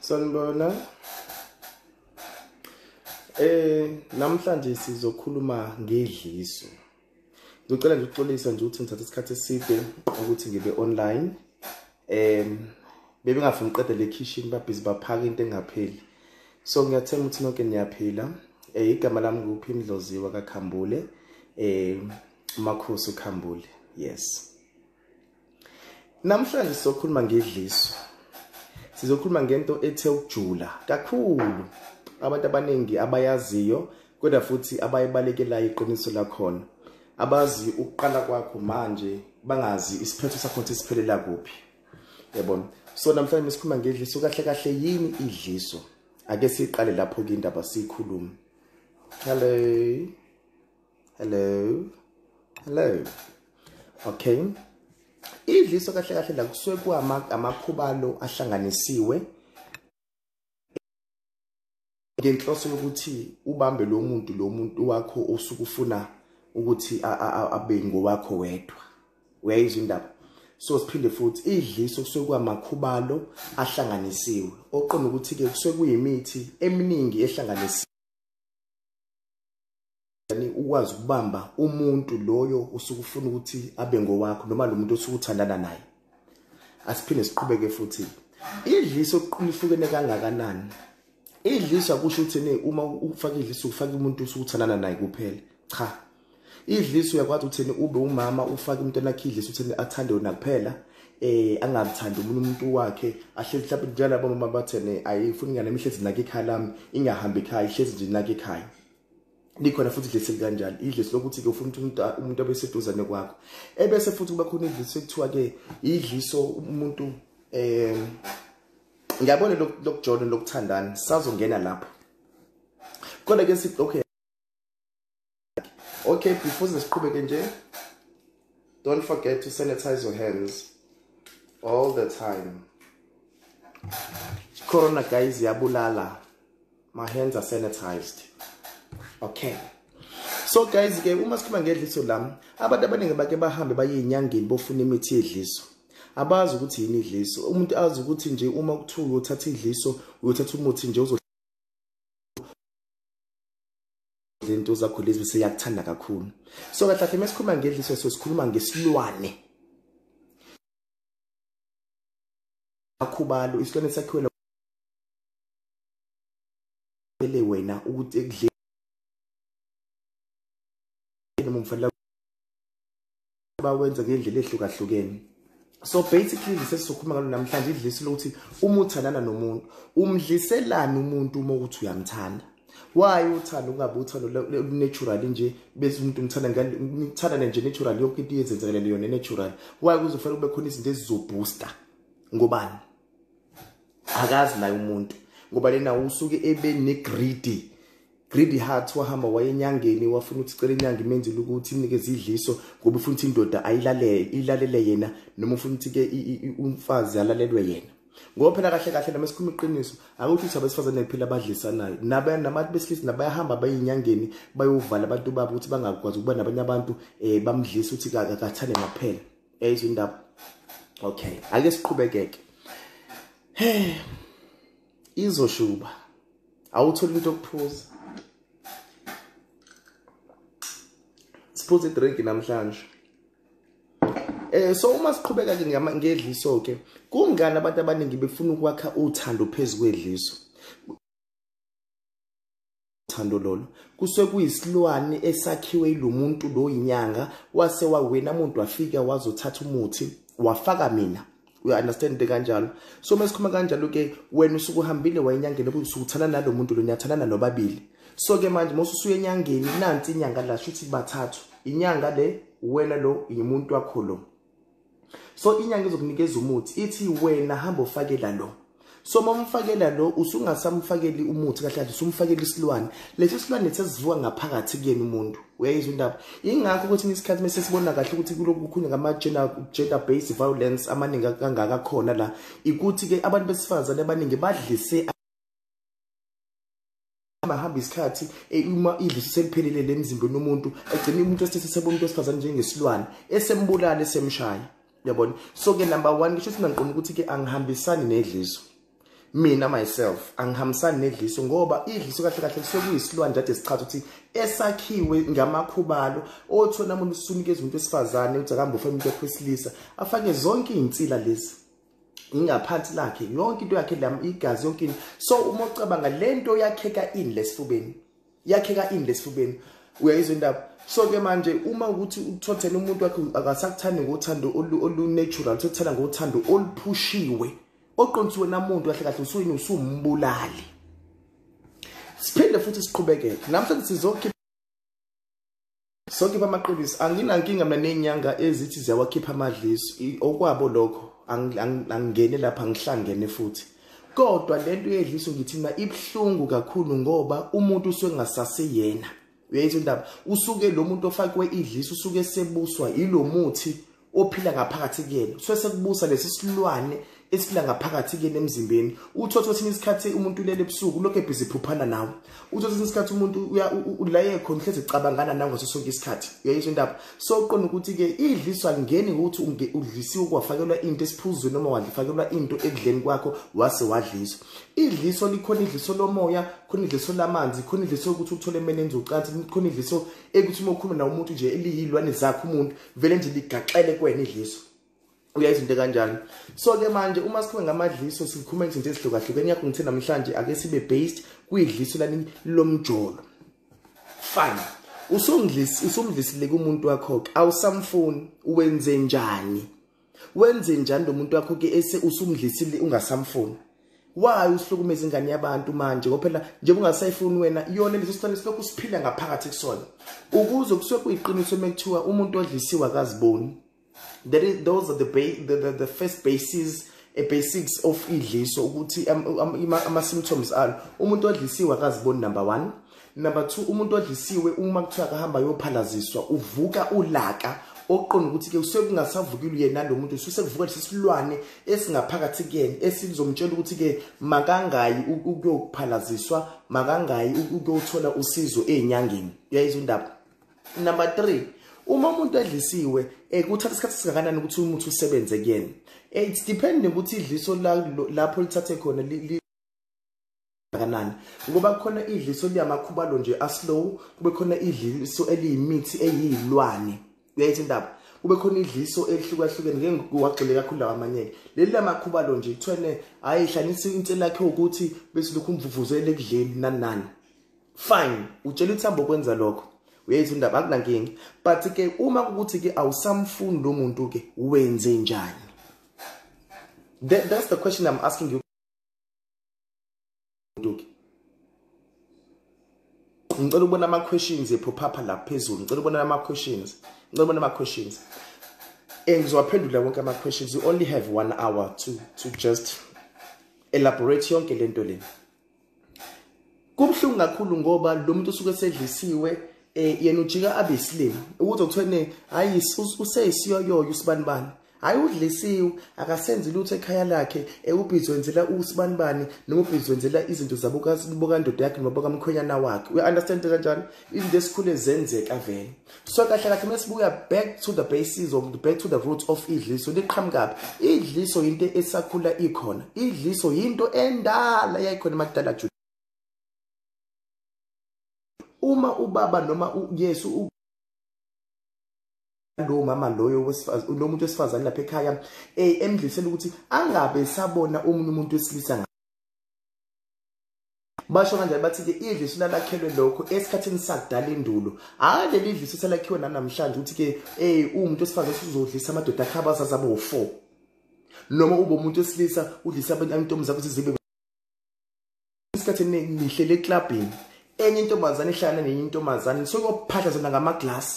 Sanibona. Eh namhlanje sizokhuluma ngedliso. Ngicela nje ukuxolisa nje ukuthi ngithatha isikhathi eside ukuthi ngibe online. Em bebe ngafuna uqede le kitchen babhizi baphaka into engapheli. So ngiyathemba ukuthi nonke niyaphila. Eh igama lami nguphi imdloziwa kaKhambule. Eh uMakhosi uKhambule. Yes. Namhlanje sizokhuluma ngedliso. Sizokhuluma ngento ethe ukujula kakhulu. Abantu abaningi abayaziyo kodwa futhi abayibalekelayo iqiniso lakhona. Abazi ukuqala kwakho manje bangazi isiphetho sakho ukuthi siphelela kuphi. Yabona. So namhlanje sikhuluma ngedliso kahle kahle yini idliso? Ake siqale lapho ke indaba sikhulume. Hello. hello hello okay idliso kahle kahle la kusuke kuama amakhubalo ahlanganisiwe ngenhloso yokuthi ubambe lo muntu lo muntu wakho osuke ufuna ukuthi abe ngowakho wedwa uyayizwa indaba so siphinde futhi idliso kusuke kwamakhubalo ahlanganisiwe oqonda ukuthi ke kusuke kuyimithi eminingi ehlanganisiwe yani ukwazi ukubamba umuntu loyo usuke ufuna ukuthi abe ngowakho noma lo muntu osuke uthandana naye asiphinde siqhubeke futhi idliso lihlukene kangakanani idliso akusho ukuthi ne uma ufaka idliso ufaka umuntu usuke uthandana naye kuphela cha idliso uyakwazi ukuthi ne ube umama ufake umntwana wakhe idliso ukuthi athande wena kuphela eh angathandi umuntu umuntu wakhe ahlezi mhlawumbe njengalabo mama bathene ayifuni ingane emihlezi nake ekhaya lami ingahambi ekhaya ihlezi nje nake ekhaya likhona futhi idlisi likanjalo idlisi lokuthi-ke ufuna ukuthi umuntu abe seduzane kwakho ebese futhi kuba khona idlisi ekuthiwa-ke idliso umuntu um eh, ngiyabona lokujona lokuthandana sazongena lapho kodwa ke sithi okay okay before siqhubeke nje don't forget to sanitize your hands all the time corona guys yabulala my hands are sanitized okay so guys ke uma sikhuluma ngedliso lami abantu abaningi bake bahambe baye enyangeni bofuna imithi yedliso abazi ukuthi yini idliso umuntu azi ukuthi nje uma kuthiwa uyothatha idliso uyothatha umuthi nje uzo lento zakho lezi bese yakuthanda kakhulu so kahle kahle mesikhuluma ngedliso so sikhuluma ngesilwane akhubalo isilwane sakhiwe ele wena ukuthi ekudleni noma umfanele bawenza ngendlela ehlukahlukene so basically lise sizokhuluma ngalo namhlanje idlisi lokuthi uma uthandana nomuntu umdliselani umuntu uma ukuthi uyamthanda why uthanda ungabe uthanda natural nje bese umuntu umthanda ngani umthanda nje natural yonke into yenzenzakalele yona natural why kuzofanele kube khona izinto ezizobooster ngobani akazi naye umuntu ngoba lena usuke ebe negreedy greedy heart wahamba wayenyangeni wafuna ukuthi cela inyanga imenzile ukuthi imnikeze idliso ngoba ufuna ukuthi indoda ayilalele ilalele yena noma ufuna ukuthi ke umfazi alalelwe yena ngoba phela kahle kahle noma sikhuluma iqiniso akuthi ukuthi abesifazane kuphela abadlisanayo nabantu besilisa nabayahamba bayinyangeni bayovala abantu babo ukuthi bangakwazi ukuba nabanye abantu um bamdlisa ukuthi akathane ngaphela Yayizwa indaba. Okay, ake siqhubekeke. Hey. Izoshuba. Awuthola into okuphuza. Siphuza idrink namhlanje. Eh so uma siqhubeka ke ngedliso ke kungani abantu abaningi befuna ukwakha uthando phezu kwedliso Thando lolu kuse kuyisilwane esakhiwe ilomuntu lo inyanga wase wawena umuntu wafika wazothatha umuthi wafaka mina we understand kanjalo so mesikhuluma kanjalo ke wena usuku uhambile wayenyangeni ubusukuthana nalomuntu lo nyathanana nobabili so ke manje mosusuye enyangeni nansi inyanga la shuthi bathathu inyanga le wena lo yimuntu wakho lo so inyanga izokunikeza umuthi ithi wena hamba ufakela lo so uma umfakela lo usungasamfakeli umuthi kahle kahle usumfakela isilwane lesi silwane sesivuka ngaphakathi kuyena umuntu uyayizwa indaba ingakho ukuthi ngesikhathi mese sibona kahle ukuthi kulokhu kukhulunywa ngama-gender based violence amaningi kangaka khona la ikuthi-ke abantu besifazane abaningi badlise hamba hamba isikhathi e, uma idlisi seliphelile lemzimbeni umuntu egcina umuntu esithe sebona umuntu wesifazane njengesilwane esembulala esemshaya yabona so ke number 1 ngisho sinanqoma ukuthi ke angihambisani nedliso mina myself angihambisani nedliso ngoba idliso kahle kahle kusokuyisilwane kade sichaza ukuthi esakhiwe ngamakhubalo othola umuntu usunikeza umuntu wesifazane uthi akambe ufuna umuntu wesilisa afake zonke izinsila lezi ingaphansi lakhe yonke into yakhe lam igazi yonke into so uma ucabanga le nto yakheka ini lesifubeni yakheka ini lesifubeni uyayizwa indaba so ke manje uma ukuthi uthothele umuntu wakhe akasakuthandi ngothando olu-natural uthothela ngothando oluphushiwe oqondisiwe namuntu kahle kahle usuyini usumbulali siphinde futhi siqhubekele namhlanje sizokhipha Sonke bamaqiniso anginankinga mina nenyanga ezithi ziyawakhipha amadliso okwabo lokho angingene lapha ngihlangene futhi kodwa lento yedliso ngithi mina ibhlungu kakhulu ngoba umuntu usuke ngasase yena uyayitho indaba usuke lo muntu ofakwe idliso usuke sebuswa ilomuthi ophila ngaphakathi kuyena so sekubusa lesi silwane esila ngaphakathi kuyena emzimbeni uthotha kwesinye isikhathi umuntu ulele ebusuku lokho ebhizi phuphana nawe uthotha kwesinye isikhathi umuntu ulaye khona uhlezi ecabangana nawe ngaso sonke isikhathi uyayizwa indaba so uqonda ukuthi-ke idliswa ngeni ukuthi udlisiwe kwafakelwa into esiphuzweni noma wadlifakelwa into ekudleni kwakho wase wadliswa idliso likhona idliso lomoya khona idliso lamanzi khona idliso yokuthi uthole emene enzocansi khona idliso ekuthi uma ukhuluma nawo umuntu nje eliyilwane zakho umuntu vele nje ligaxele kwena idliso uya izinto kanjani so ke manje uma sikhuluma ngamadliso sikhuluma ngezinto ezihlukahlukene yakho ngithe namhlanje ake sibe based kuyidliso lani lomjolo fine usumdlisi usumdlisile kumuntu wakho awusamfuni uwenze njani wenze njani lomuntu wakho ke ese usumdlisile ungasamfuni why usihlukumeza ingane yabantu manje ngophela njengoba ungasayifuni wena yona leso sicelo silokhu siphila ngaphakathi kusona ukuze kusuke kuyiqiniso mekuthiwa umuntu odlisiwe akaziboni that is those are the, the, the, the first bases a basics of idliso ukuthi ama symptoms alo umuntu odlisiwe akaziboni number 1 number 2 umuntu odlisiwe uma kuthiwa akahamba yophalaziswa uvuka ulaka oqonda ukuthi ke usekungasavukile uyena lo muntu usekuvuka lesi silwane esingaphakathi kuyena esizomtshela ukuthi ke makangayi ukuyophalaziswa makangayi ukuyothola usizo ezinyangeni uyayizwa indaba number 3 uma umuntu edlisiwe eh, kuthatha isikhathi singakanani ukuthi umuthi usebenze kuyena eh, it's depending ukuthi idliso lapho lithathe khona kanani ngoba kukhona idliso liyamakhubalo nje aslow kube khona idliso eliyimithi eyilwane uyayithi indaba kube khona idliso elihlukahlukene ngeke ngiwagxile kakhulu lawa amanyeke leli lamakhubalo nje kuthwene hayi hlanisa into lakhe ukuthi bese lokhu umvuvuzele ekudleni nani nani fine utshela ukuthi hambo kwenza lokho uyayithi indaba akunankinga but ke uma ukuthi ke awusamfuni lo muntu ke wenze njani That, that's the question I'm asking you. nduki ngicela ukubona ama questions ephophapha lapha phezulu ngicela ukubona ama questions ngicela ukubona ama questions eh ngizowaphendula wonke ama questions you only have 1 hour to to just elaborate yonke lento lena kubhlungu kakhulu ngoba lo muntu usuke sedlisiwe eh yena ujika abesilima ukuthi okuthiwa ne hayi useyisiyoyoyo usibanibani Hayi udlisiwe akasenzi lutho ekhaya lakhe ewubhizi wenzela usibanibani noma ubhizi wenzela izinto zabo bokandoda yakhe noma bokamkhwenyana wakhe uya understand kanjani izinto esikhule zenzeka vele so kahle kahle uma sibuya back to the basis of the back to the root of idliso liqhamukapi idliso into esakhula ikhona idliso yinto endala yayikhona emakudala jule uma ubaba noma uyesu lowo mama loyo wesifazane lo muntu wesifazane lapha ekhaya eh emdlisela ukuthi angabe sabona omunye umuntu wesilisa basho kanjani bathi-ke idliso lalakhelwe lokho esikhathini sakudala indulo hhayi leli idliso selakhiwe nanamhlanje ukuthi-ke um uwumuntu wesifazane usuzodlisa amadoda akhe abazazi abe wu-four noma ube umuntu wesilisa udlisa abantu zakho ukuthi zibe isikhathi esiningi ngihlele eklabhini enye intombazane ihlala nenye intombazane sokuyophahla zona ngamaglasi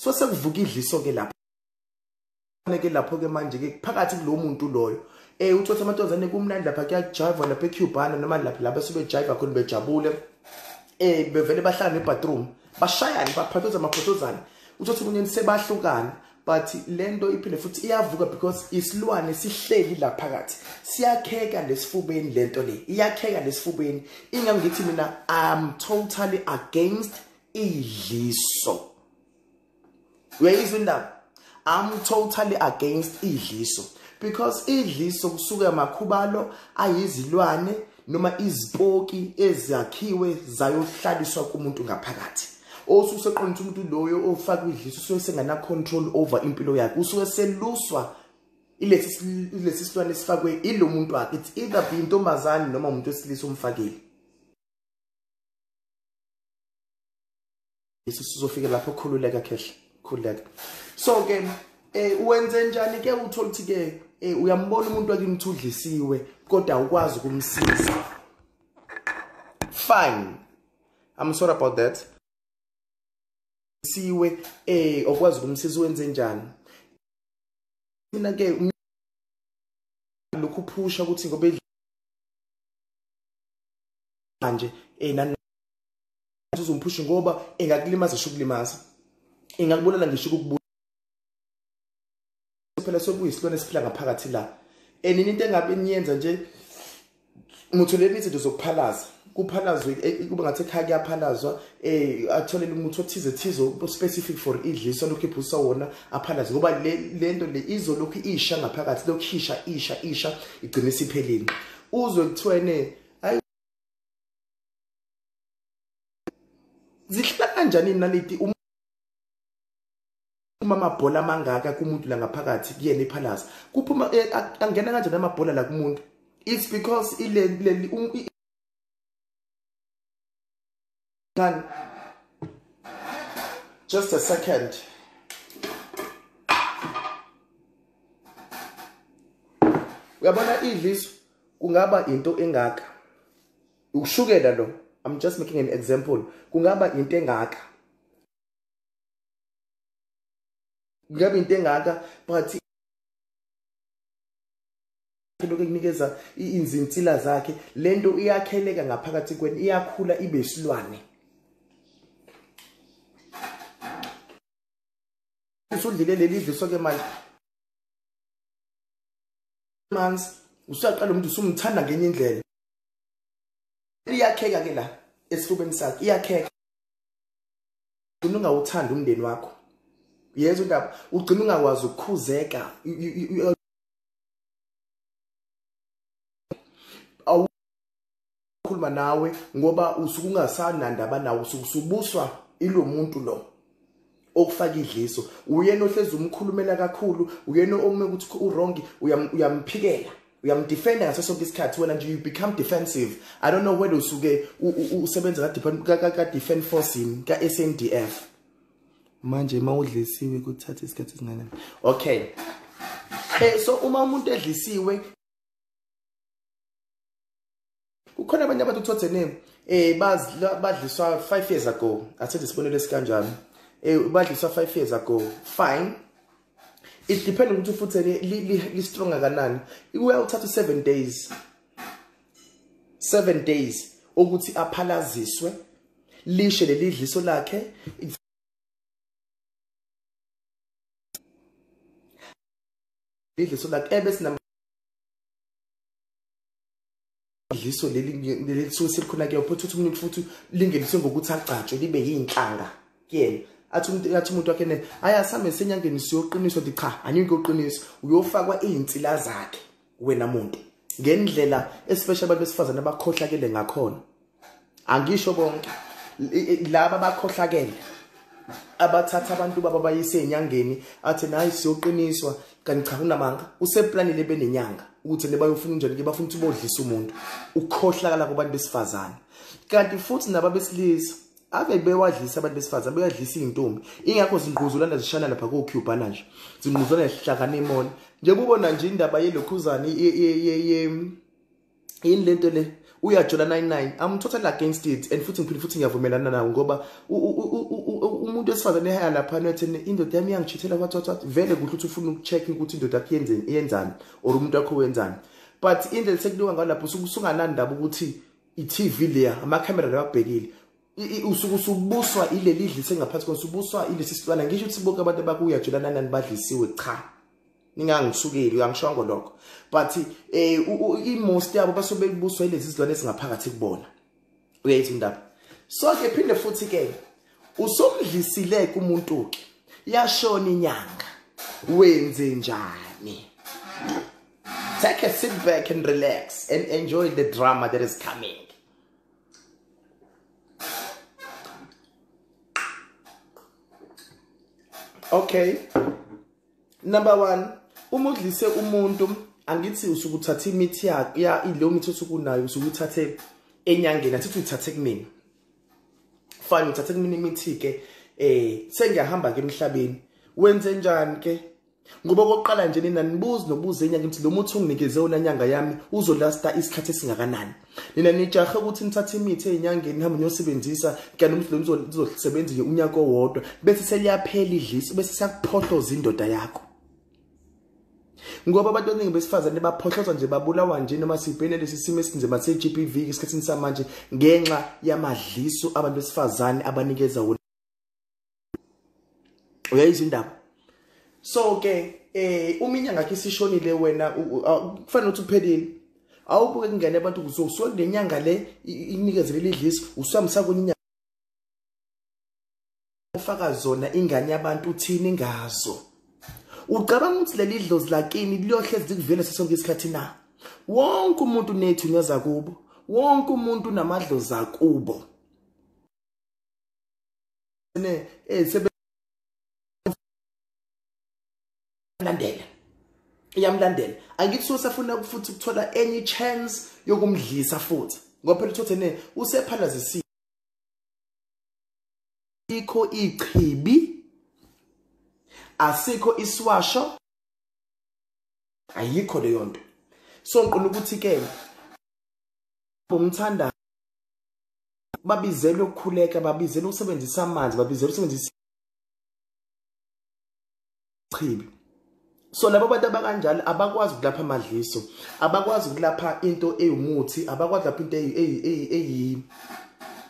so sekuvuka idliso ke lapho ke lapho ke manje ke phakathi kulo muntu loyo eh uthotha amantombazane kumnandi lapha kuyajiva lapha eCubana noma lapha lapha sebejiva khona bejabule eh bevele bahlala nebathroom bashayana baphathozana amaphotozana uthotha umuntu sebahlukana but lento iphinde futhi iyavuka because isilwane sihleli la phakathi siyakheka lesifubeni lento le iyakheka lesifubeni ingangithi mina i'm totally against idliso uyayizwa indaba i'm totally against idliso because idliso kusuke amakhubalo ayizilwane noma izipoki ezakhiwe zayohlaliswa kumuntu ngaphakathi osuseqonda umuntu loyo ofaka idliso usuke sengana control over impilo yakhe usuke seluswa ilesi lesi silwane sifakwe ilomuntu wakhe it's either be intombazane noma umuntu wesilisa omfakile Yesu sizofika lapho khululeka khehla khululeka so ke eh uwenze njani ke uthola ukuthi ke eh uyambona umuntu wakimthudlisiwe kodwa ukwazi ukumsiza fine i'm sorry about that siwe eh okwazi ukumsiza wenze njani mina ke um, lokhu phusha ukuthi ngobe manje eh uzomphusha ngoba ingakulimaza isho ukulimaza ingakubulala ngisho ukubulala phela sokuyisilwane esiphila ngaphakathi la and into engabe niyenza nje mutholeni izinto zokuphalaza kuphalazwe eh, eh, kuba ngathi ekhaya kuyaphalazwa um eh, atholele umuthi othize thize specific for idliso lokhu iphusa wona aphalaze ngoba le nto le izolokhu isha ngaphakathi lokhu isha isha isha igcine isiphelini uzwe kuthiwene zihlala kanjani inaliti uma amabhola amangaka kumuntu la ngaphakathi kuyena ipalace kuphuma eh, angena kanjani amabhola la kumuntu it's because ile leli um, ngani just a second uyabona idliso kungaba into engaka ukushukela lo i'm just making an example kungaba into engaka kungaba into engaka but lokhu ekunikeza izintsila zakhe lento iyakheleka ngaphakathi kweni iyakhula ibe isilwane usudlile leli dliso ke manje manzi usaqala umuntu usumthanda ngenye indlela iyakheka ke la esifubeni sakhe iyakheka ugcina ungawuthanda umndeni wakho yeza indaba ugcina ungakwazi ukukhuzeka awukhuluma nawe ngoba usuke ungasanandaba nawe usuke usubuswa ilo muntu lo okufaka idliso uyena ohlezi umkhulumela kakhulu uyena ome ukuthi uwrong uyamphikela uyamdefenda ngaso sonke isikhathi wena nje you become defensive i don't know whether usuke usebenza ka-defend force yini ka-s n d f manje uma udlisiwe kuthatha isikhathi esinganani okay um so uma umuntu edlisiwe kukhona abanye abantu uthothe name eh badliswa 5 years ago athethe isibonelo esikanjani eh badliswa 5 years ago fine it depends ukuthi futhi li strong kanani ikuya uthatha 7 days 7 days ukuthi aphalaziswe lishe lelidliso lakhe lidliso lakhe ebese dliso leli leli lisuke selikhona kuyo futhi uthi umuntu futhi lingeliswe ngokuthi agcatshwe libe yinhlanga kuyena athi umuntu athi umuntu wakhe ne hayi asambe senyangeni siyoqiniswa ukuthi cha angeke uqiniswe uyofakwa izinsila zakhe wena muntu ngendlela especially abantu besifazane abakhohlakele ngakhona angisho bonke laba bakhohlakele abathatha abantu baba bayise enyangeni athi nayi siyoqiniswa kanti cha kunamanga useplanile benenyanga ukuthi nebayofuna njani ke bafuna ukuthi bodlisa umuntu ukhohlakala kubantu besifazane kanti futhi naba besilisa ave bewadlisa abantu besifazane beyadlisa izintombi ingakho zingquzulana zishana lapha ko Cubana nje zingquzulana zihlakana emona nje kubona nje indaba yelokhuzane ye ye ye yini lento le uyajola 99 i'm totally against it and futhi ngiphinde futhi ngiyavumelana nawo ngoba umuntu wesifazane ehaya lapha nothi indoda yami iyangijithela what what what vele kuhle ukuthi ufuna ukucheck ukuthi indoda yakho yenzeni iyenzani or umuntu wakho wenzani but indlela sekuliwa ngalapho usunganandaba ukuthi i-TV leya amakhamera lewabhekile usuke usubuswa ileli dlise ngaphansi kona usubuswa ilesi silwana ngisho ukuthi bonke abantu abakuya jelana nani badlisiwe cha ningangisukeli uyangishongo lokho but eh i-most yabo basobe kubuswa ilezi zilwane ezingaphakathi kubona uyayithi indaba so ke phinde futhi ke usomdlisile kumuntu ke yashona inyanga wenze njani take a sit back and relax and enjoy the drama that is coming okay number one uma udlise umuntu angithi usuke uthatha imithi yakhe ya ileyo mithi osuke unayo usuke uthathe enyangeni athithi uyithathe kumina fine uthathe kumina imithi-ke um eh, sengiyahamba-ke emhlabeni wenze njani-ke ngoba okokuqala nje nina nibuzi nobuze enyanga ukuthi lo muthi unginikeze wona nyanga yami uzolasta isikhathi esingakanani nina nijahe ukuthi nithathe imithi ezinyangeni nihambe niyosebenzisa kanti umuthi lo nizosebenza nje unyaka owodwa bese seliyaphela idlisi bese siyakuphohloza indoda yakho ngoba abantu abaningi besifazane baphohlozwa nje babulawa nje noma sibhene lesi simo esinzima se-GBV esikhathini samanje ngenxa yamadliso abantu besifazane abanikeza wona uyayizwa indaba so ke eh uma inyanga yakhe isishonile wena kufanele ukuthi uphelile awubuke kungene abantu kuzosuka kule nyanga le inikezele lidlisi usuhambisa kwenye inyanga ufaka zona ingane yabantu uthini ngazo ucabanga ukuthi leli dlozi lakini liyohlezi likuvele sesonke isikhathi na wonke umuntu nethu nyoza kubo wonke umuntu namadlozi akubo ne eh sebe landela iyamlandela angithi so safuna futhi ukuthola any chance yokumdlisa futhi ngoba phela uthothe ne usephalazisile ikho ichibi asikho isiwasho ayikho leyo nto so ngiqina ukuthi ke bomthanda babizele ukukhuleka babizele ukusebenzisa amanzi babizele ukusebenzisa chibi so labo bantu abakanjalo abakwazi ukulapha amadliso abakwazi ukulapha into eyimuthi abakwazi lapha into eyi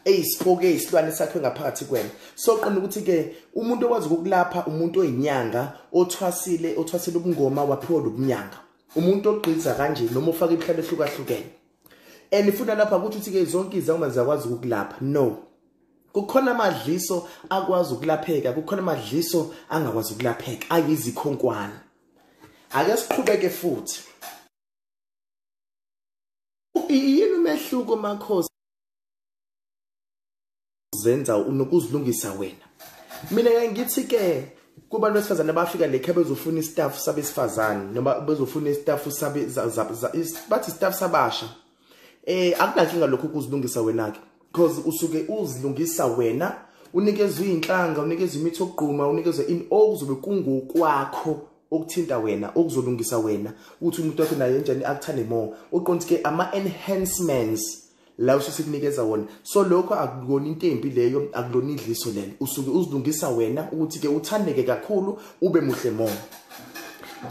eyisipoke eyisilwane sakhe ngaphakathi kwena soqonda ukuthi ke umuntu okwazi ukulapha umuntu oyinyanga othwasile othwasile ubungoma waphiwa lobunyanga umuntu ogqiza kanje noma ufaka imihlaba ehlukahlukene and ifuna lapha ukuthi uthi ke zonke izangoma ziyakwazi ukulapha no kukhona amadliso akwazi ukulapheka kukhona amadliso angakwazi ukulapheka ayizikhonkwana ake siqhubeke futhi yini umehluko makhosi zenza unokuzilungisa wena mina ke ngithi ke kubantu besifazane bafika le khe bezofuna istaff sabesifazane noma bezofuna istaff sabe bathi istaff sabasha eh akunankinga lokho kuzilungisa wena ke because usuke uzilungisa wena unikezwe inhlanga unikezwe imithi okugquma unikezwe in okuzobe kungokwakho okuthinta wena okuzolungisa wena ukuthi umuntu wakhe naye njani akuthande more uqonde ke ama enhancements la usisi kunikeza wona so lokho akukona into embi leyo akulona idliso lelo usuke uzilungisa wena ukuthi ke uthandeke kakhulu ube muhle more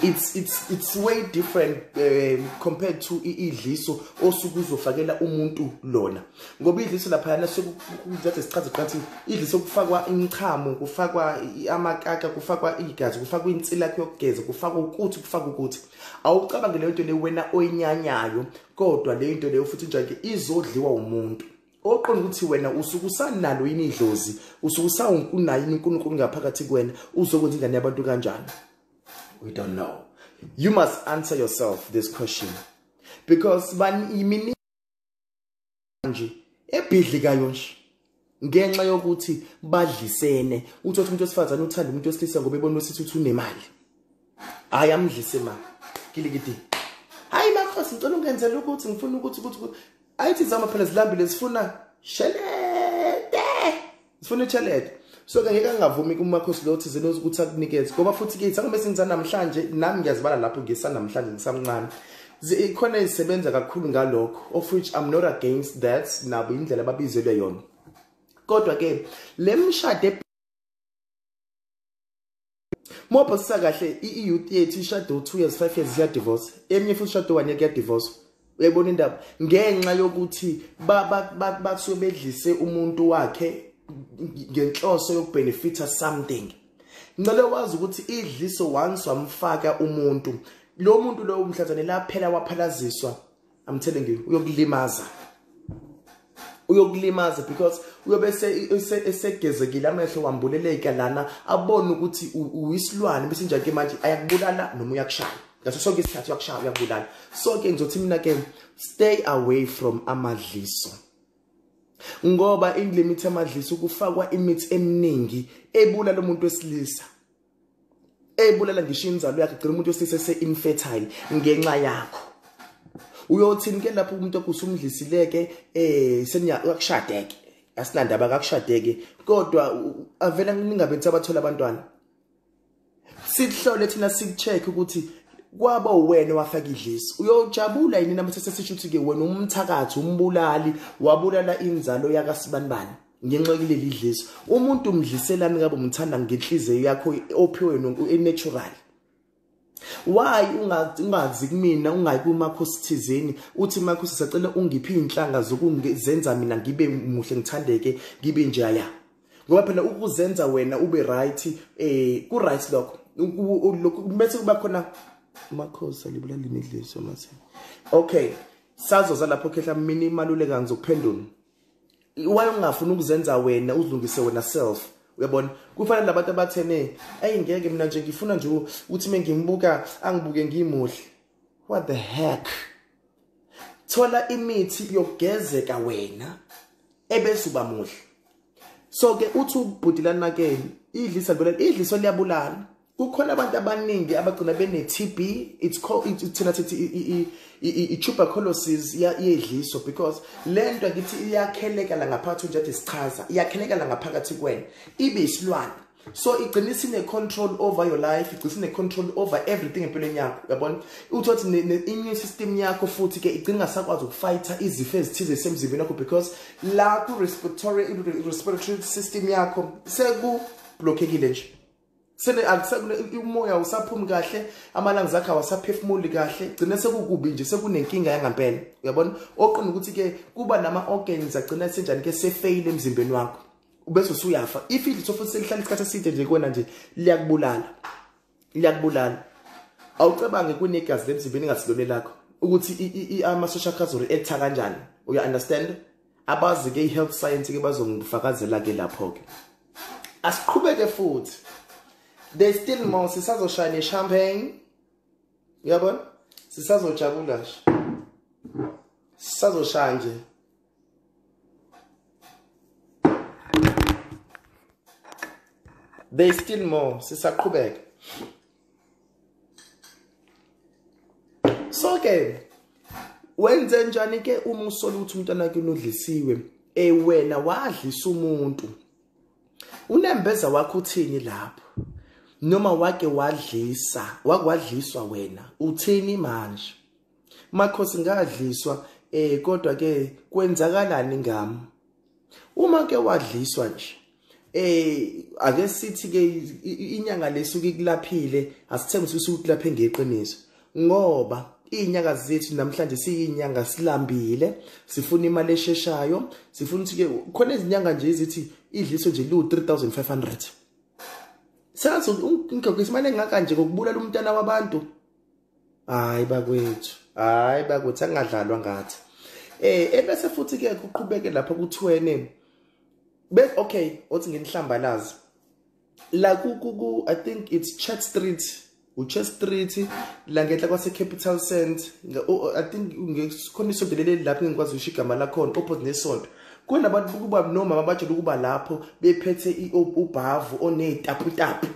it's it's it's way different um, compared to idliso osuke uzofakela umuntu lona ngoba idliso lapha yana sekuthatha isikhathi kanti idliso kufakwa imichamo kufakwa amakaka kufakwa igazi kufakwa insila yakhe yokugeza kufakwa ukuthi kufakwa ukuthi awucabangele into le wena oyinyanyayo kodwa le into leyo futhi njake izodliwa umuntu oqonda ukuthi wena usuke usanalo yini idlozi usuke usawunayo yini uNkulunkulu ngaphakathi kuwena uzokwenza ingane yabantu kanjani we don't know you must answer yourself this question because bani manje ebhidli kayo nje ngenxa yokuthi badlisene uthi umuntu wesifazane uthanda umuntu wesilisa ngoba ebona ukuthi uthi unemali hayi amdlise ma kilikidi hayi makhosi ngicela ungenzela ukuthi ngifuna ukuthi ukuthi ayithi zama phela zilambile zifuna shelete sifuna italent so ke ngeke angavumi kumakhosi lo thizeni ukuthi akunikeze ngoba futhi ke sangome sinza namhlanje nami ngiyazibala lapho ngisanamhlanje ngisamncane ikhona isebenza kakhulu ngalokho of which i'm not against that nabo indlela ababizelwe yona kodwa ke le mshade Mobho sisakahle i-youth yethu ishado 2 years 5 years siya divorce. Eminye futhi ishado 1 year kuya divorce. Uyayibona indaba ngenxa yokuthi basuke bedlise umuntu wakhe ngenhloso yokubenefitha something. Ngicela wazi ukuthi idliso once wamfaka umuntu. Lo muntu lo umhlathane laphela waphalaziswa I'm telling you uyokulimaza uyokulimaza because uyobe esegezekile amehlo wambuleleka lana abone ukuthi uyisilwane bese njake manje ayakubulala noma uyakushaya ngaso sonke isikhathi uyakushaya uyakubulala so ke ngizothi mina ke stay away from amadliso ngoba indlimi ithi amadliso kufakwa imithi eminingi ebulala umuntu wesilisa ebulela ngisho inzalo yakhe gcina umuntu wesise se infertile ngenxa yakho uyothini ke lapho umuntu okusumdlisileke eh seniyakushadeke asinandaba kakushadeke kodwa avela ningabethi abathola abantwana sikuhlole thina sikucheck ukuthi kwaba uwena wafaka idlisi uyojabula yini namthe sesisho ukuthi ke wena umthakathi umbulali wabulala inzalo yakasibanibani ngenxa kuleli dliso umuntu umdliselani kabe umthanda ngenhliziyo yakho ophiwe natural why ungazi kumina ungayi kumakhosi thizeni uthi makhosi sacela ungiphi inhlanga zokuzenza mina ngibe muhle ngithandeke ngibe njaya ngoba phela ukuzenza wena ube right eh ku right lokho lokho bese kuba khona makhosi alibula limidliso mase okay sazoza lapho khehla mina imaluleka ngizokuphendula wayengafuna ukuzenza wena uzilungise wena self uyabona kufanele labantu abathene ayi ngeke mina nje ngifuna nje ukuthi mengimbuka angibuke ngimuhle what the heck thola imithi yokugezeka wena ebese uba muhle so ke uthi ubhuti lanakeni idlisa lona idliso liyabulala kukhona abantu abaningi abagcina bene-tb it's called it, thina sithi i-tuberculosis yedliso because le nto ngithi iyakhelekela ngaphakathi njengathi sichaza iyakhelekela ngaphakathi kwena ibe isilwane so igcina isine-control over your life igcina isine-control over everything empilweni yakho yabona uthi othi ne-immune system yakho futhi ke igcina ingasakwazi ukufayitha izifo ezithize zisemzimbeni wakho because la ku-respiratory system yakho seku-blockekile nje sele akusekule umoya usaphumi kahle amalanga zakhe awasaphefumuli kahle gcine sekukubi nje sekunenkinga yangampela uyabona oqina ukuthi ke kuba nama organs agcina senjani ke sefeyile emzimbeni wakho ubese usuyafa if idlitho futhi selihlala isikhathi eside nje kuwena nje liyakubulala liyakubulala awucabange kunegazi lemzimbeni ingasilone lakho ukuthi amasosha akho azoreacta kanjani uya understand abazi ke ihealth science ke bazongifakazela ke lapho ke asiqhubeke futhi they still more sisazoshaya ne champagne uyabona sisazojabula nje sisazoshaya nje they still more sisaqhubeka so ke wenze njani ke uma usola ukuthi umntwana wakhe unodlisiwe eh wena wadlisa umuntu unembeza wakho uthini lapho noma wake wadlisa wakwadliswa wena uthini manje Makhosi ngadliswa eh kodwa ke kwenzakalani ngami uma ke wadliswa nje eh ake sithi ke inyanga lesuke ikulaphile asithembe ukuthi ukulaphe ngeqiniso ngoba izinyanga zethu namhlanje siyinyanga silambile sifuna imali esheshayo sifuna ukuthi ke khona izinyanga nje ezithi idliso nje liwu 3500 sengathi ngigqokisa imali engaka nje ngokubulala umntana wabantu hayi bakwethu hayi bakwethu angadlalwa ngathi eh ebese futhi ke kuqhubeke lapha kuthwene be okay othi ngenihlambalazi la ku ku i think it's chat street uChe Street la ngenhla kwase Capital Cent i think ngikhona isonto leli lapho ngikwazi usho igama lakhona opposite nesonto kunabantu kuba nomama bajela ukuba lapho bephethe ubhavu onezitaputapu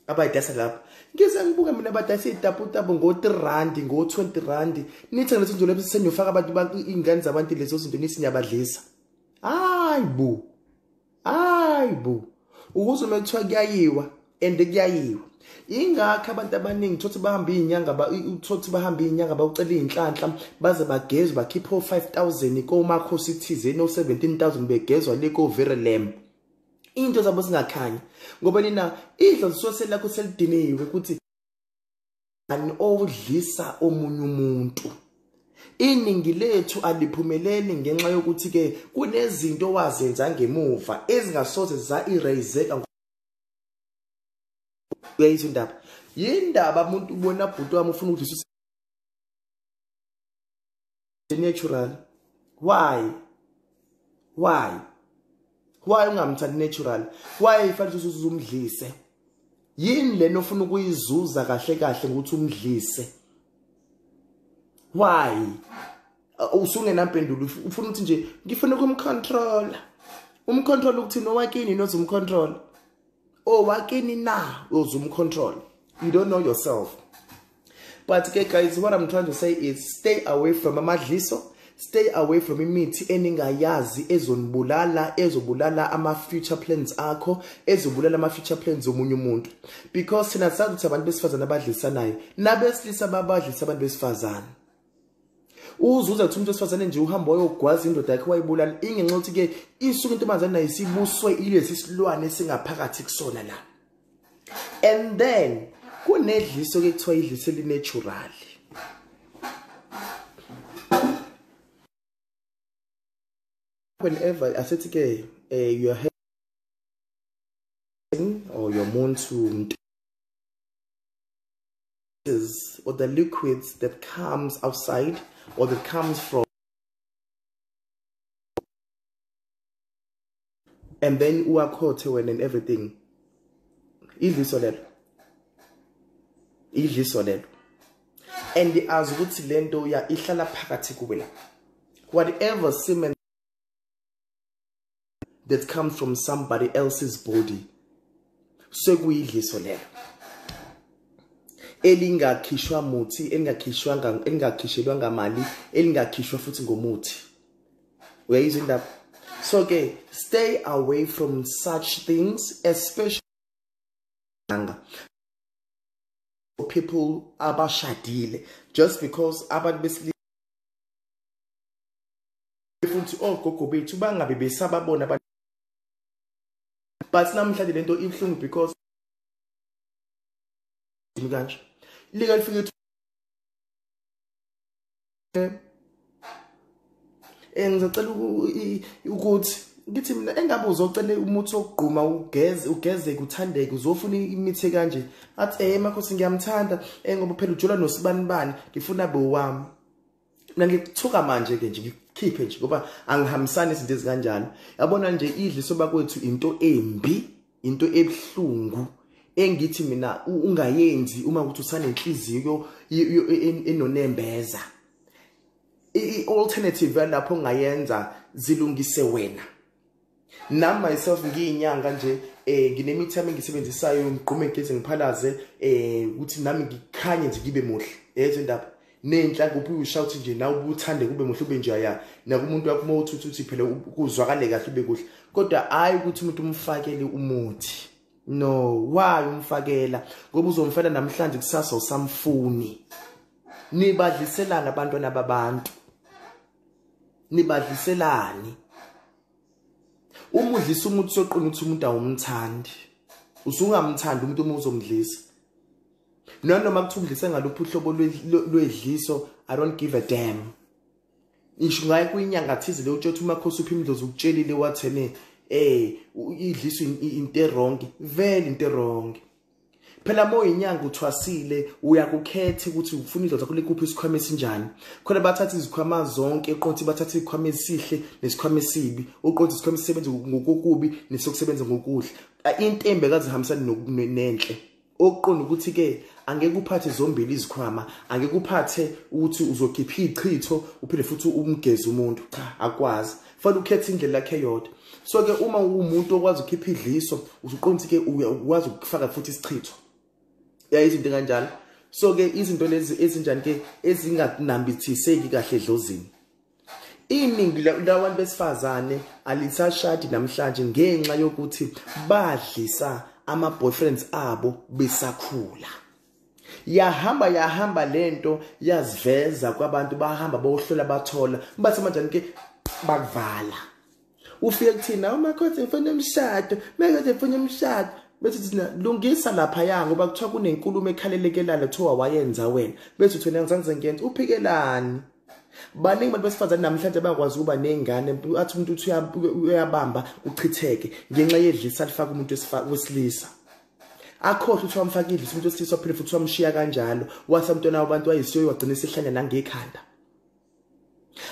abayidayisa lapho ngize ngibuke mina badayisa iy'taputapu ngo-three randi ngo-twenty randi nithenge leso nto leso seniyofaka abantu iy'ngane zabantu lezo zinto nithi niyabadlisa hayi bo hayi bo ukuze uma kuthiwa kuyayiwa and kuyayiwa yingakho abantu abaningi thothi bahambe iy'nyanga thothi bahambe iy'nyanga bawucela iy'nhlanhla baze bagezwe bakhiphe o-five thousand komakhosi thizeni o-seventeen thousand begezwa le koverelembo into zabo zingakhanyi ngoba nina idlo lisose lakho selidiniwe ukuthi ani odlisa omunye umuntu iningi lethu aliphumeleli ngenxa yokuthi ke kunezinto wazenza ngemuva ezingasoze za eraseka uyayizwa indaba yindaba umuntu ubona bhuti wami ufuna ukudlisa natural why why why ungamthandi natural why ifanele ukuthi uzumdlise yini lena ofuna ukuyizuza kahle kahle ngokuthi umdlise why uh, usungenampendulo ufuna ukuthi nje ngifuna ukumcontrola umcontrola ukuthini owakini nozumcontrola owakini na uze umcontrol you don't know yourself but ke guys what i'm trying to say is stay away from amadliso stay away from imithi eningayazi ezonibulala ezobulala ama-future plans akho ezobulala ama-future plans omunye umuntu because thina sazi ukuthi abantu besifazane abadlisanayo nabesilisa babadlisa abantu besifazane uzuza kuthi umuntu wesifazane nje uhamba wayogwaza indoda yakhe wayibulala ingenxa yokuthi ke isuke intombazane nayo isibuswe ilesi silwane singaphakathi kusona la and then kunedliso ke kuthiwa idliso elinatural whenever asethi ke eh you are or your muntu gases or the liquids that comes outside or that comes from and then uwakhothe wena and everything idliso lelo idliso lelo and azi ukuthi lento uya ihlala phakathi kuwe la whatever semen that comes from somebody else's body sekuyidliso lelo elingakhishwa muthi elingakhishwanga elingakhishelwa ngamali elingakhishwa futhi ngomuthi uyayizwa indaba so ke stay away from such things especially people abashadile just because abantu besilisa futhi ogogo bethu bangabe besababona abantu but namhlanje lento ibuhlungu because kanje lika lifike eh ngicela ukuthi ngithi mina engabe uzocela umuthi wokugquma ugeze ugeze kuthandeke uzofuna imithi kanje athi eh makhosi ngiyamthanda eh ngoba phela ujola nosibanibani ngifuna bewami mina ngikuthuka manje ke nje ngikhiphe nje ngoba angihambisani izinto ezikanjalo yabona nje idli soba kwethu into embi into ebuhlungu engithi mina ungayenzi uma ukuthi usanenhliziyo enonembeza i-alternative yalapho ongayenza zilungise wena nam myself ngiyinyanga nje um eh, nginemithi yami engiyisebenzisayo ngigqume ngigeze ngiphalaze um eh, ukuthi nami ngikhanye nje ngibe muhle yezo ndaba nenhla kuphi ushawuthi nje nawe ubuthande kube muhle ube nje ya nakumuntu wakho uma uthi uthi phela kuzwakale kahle ube kuhle kodwa hayi ukuthi umuntu umfakele umuthi no why umfakela ngoba uzomfela namhlanje kusasa usamfuni nibadliselana abantwana babantu nibadliselani uma udlisa umuntu soqina ukuthi umuntu awumthandi usungamthandi umuntu uma uzomdlisa nanoma kuthiwa udlise ngaluphi uhlobo lwedliso i don't give a damn ngisho ngaye kuyinyanga thize le utshothi umakhosi uphi imdlozi ukutshelile wathene eh idliso into erongi vele into erongi phela uma uyinyanga uthwasile uyakukhetha ukuthi ufuna indoda kule kuphi isikhwama esinjani khona bathatha izikhwama zonke eqothi bathatha izikhwama esihle nesikhwama esibi uqothi isikhwama esisebenza ngokukubi nesokusebenza ngokuhle intembe kazihambisani nenhle okuqonda ukuthi ke angeke uphathe zombili izikhwama angeke uphathe ukuthi uzokhipha ichitho uphinde futhi umgeze umuntu cha akwazi fanele ukhethe indlela yakhe yodwa so ke uma umuntu okwazi ukhipha idliso usuqonda ke ukwazi ukufaka futhi isichitho ya izinto kanjalo so ke izinto lezi ezinjani ke ezinganambithiseki kahle edlozini iningi labantu besifazane alisashadi namhlanje ngenxa yokuthi badlisa ama boyfriends abo besakhula yahamba yahamba lento yaziveza kwabantu bahamba bohlola bathola bathi manje ke bakuvala ufike kuthina uma khothe ngifuna umshado mekade ngifuna umshado bethi thina lungisa lapha ya ngoba kuthiwa kunenkulumo ekhalelekelana kuthiwa wayenza wena bethi uthi wena ngizanze ngenza uphikelani baningi abantu besifazane namhlanje bayakwazi ukuba ney'ngane athi umuntu uthi uyabamba uchitheke ngenxa yedlisa lifaka umuntu wesilisa akhohle ukuthi wamfaka idlisa umuntu wesilisa waphinde futhi wamshiya kanjalo wasa mntwana wabantu wayisiyo wagcina isihlanya nangekhanda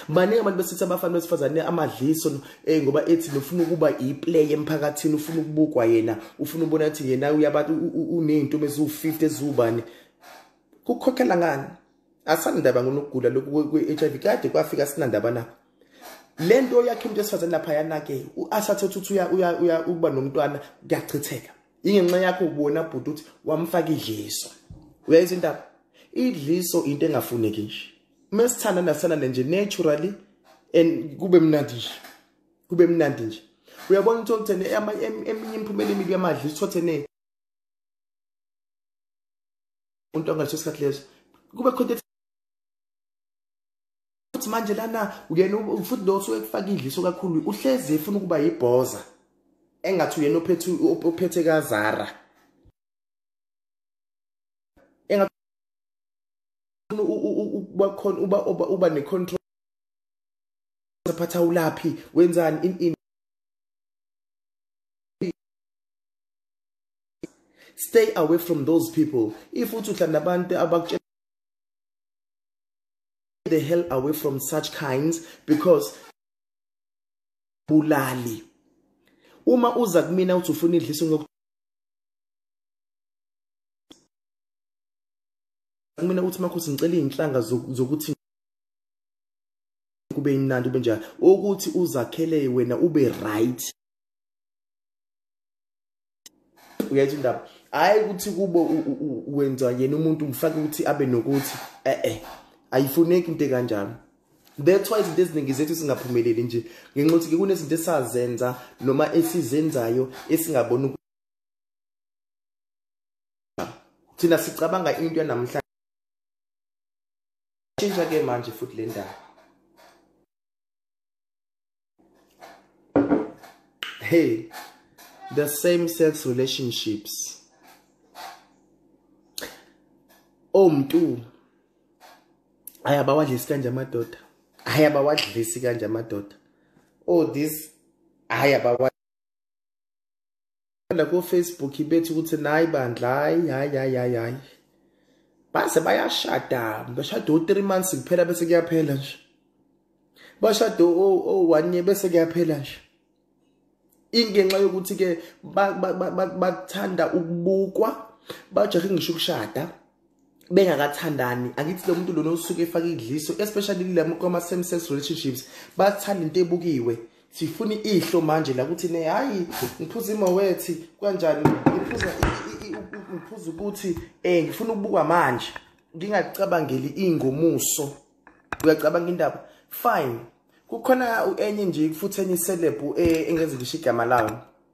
baningi abantu besithi abafana besifazane amadliso eh ngoba ethi nofuna ukuba iplay emphakathini ufuna ukubukwa yena ufuna ubona ukuthi yena uyabantu unezinto eziwu50 ezubani kukhokhela ngani asandaba ngonokugula lokhu kwe-HIV kade kwafika sinandaba na lento yakhe umuntu esifazane lapha yanake uasathe ukuthi uya uya uya ukuba nomntwana kuyachitheka ingenxa yakho ubona bhuti ukuthi wamfaka idliso uyayizwa indaba idliso into engafuneki nje uma sithanda nasithanda nje naturally and kube mnandi nje kube mnandi nje uyabona ukuthi okuthene eminye imiphumela emibi yamadla isithothene umuntu angaleso sikhathi leso kube khona futhi manje lana uyena futhi lo osuke kufaka idliso kakhulu uhlezi efuna ukuba yibhoza engathi uyena ophethe ophethe kazara engathi uba khona uba uba ne control saphatha ulaphi wenzani in in stay away from those people if uthi uhlala nabantu abakutshela the hell away from such kinds because bulali uma uza kumina uthi ufuna idlisa ngok kumina uthi makhosi ngicela izinhlanga zokuthi kube imnandi ube njalo ukuthi uzakhele wena ube right uyayithu ndaba hayi ukuthi kubo wenza yena umuntu umfake ukuthi abe nokuthi eh eh ayifuneki into kanjalo that's why izinto eziningi zethu singaphumeleli nje ngenxa ukuthi kunezinto esazenza noma esizenzayo esingabona thina sicabanga into yanamhlanje tshintsha ke manje futhi le ndaba hey the same sex relationships omntu ayabawadlisi kanje amadoda ayabawadlisi kanje amadoda oh this ayabawa la ko Facebook bethi ukuthi nayi bandla hayi hayi hayi hayi hayi base bayashada bashada u 3 months kuphela bese kuyaphela nje bashada o o 1 year bese kuyaphela nje ingenxa yokuthi ke bakuthanda ukubukwa bajahe ngisho ukushada bengakathandani angithi lo muntu lona usuke efaka idliso especially kulama kwama same sex relationships bathanda into ebukiwe sifuna ihlo manje la kuthi ne hayi ngiphuza imowethi kanjani ngiphuza ngiphuza ukuthi eh ngifuna ukubukwa manje ngingacabangeli ingomuso uyacabanga indaba fine kukhona enye nje futhi enye celeb eh, engenza ngisho igama layo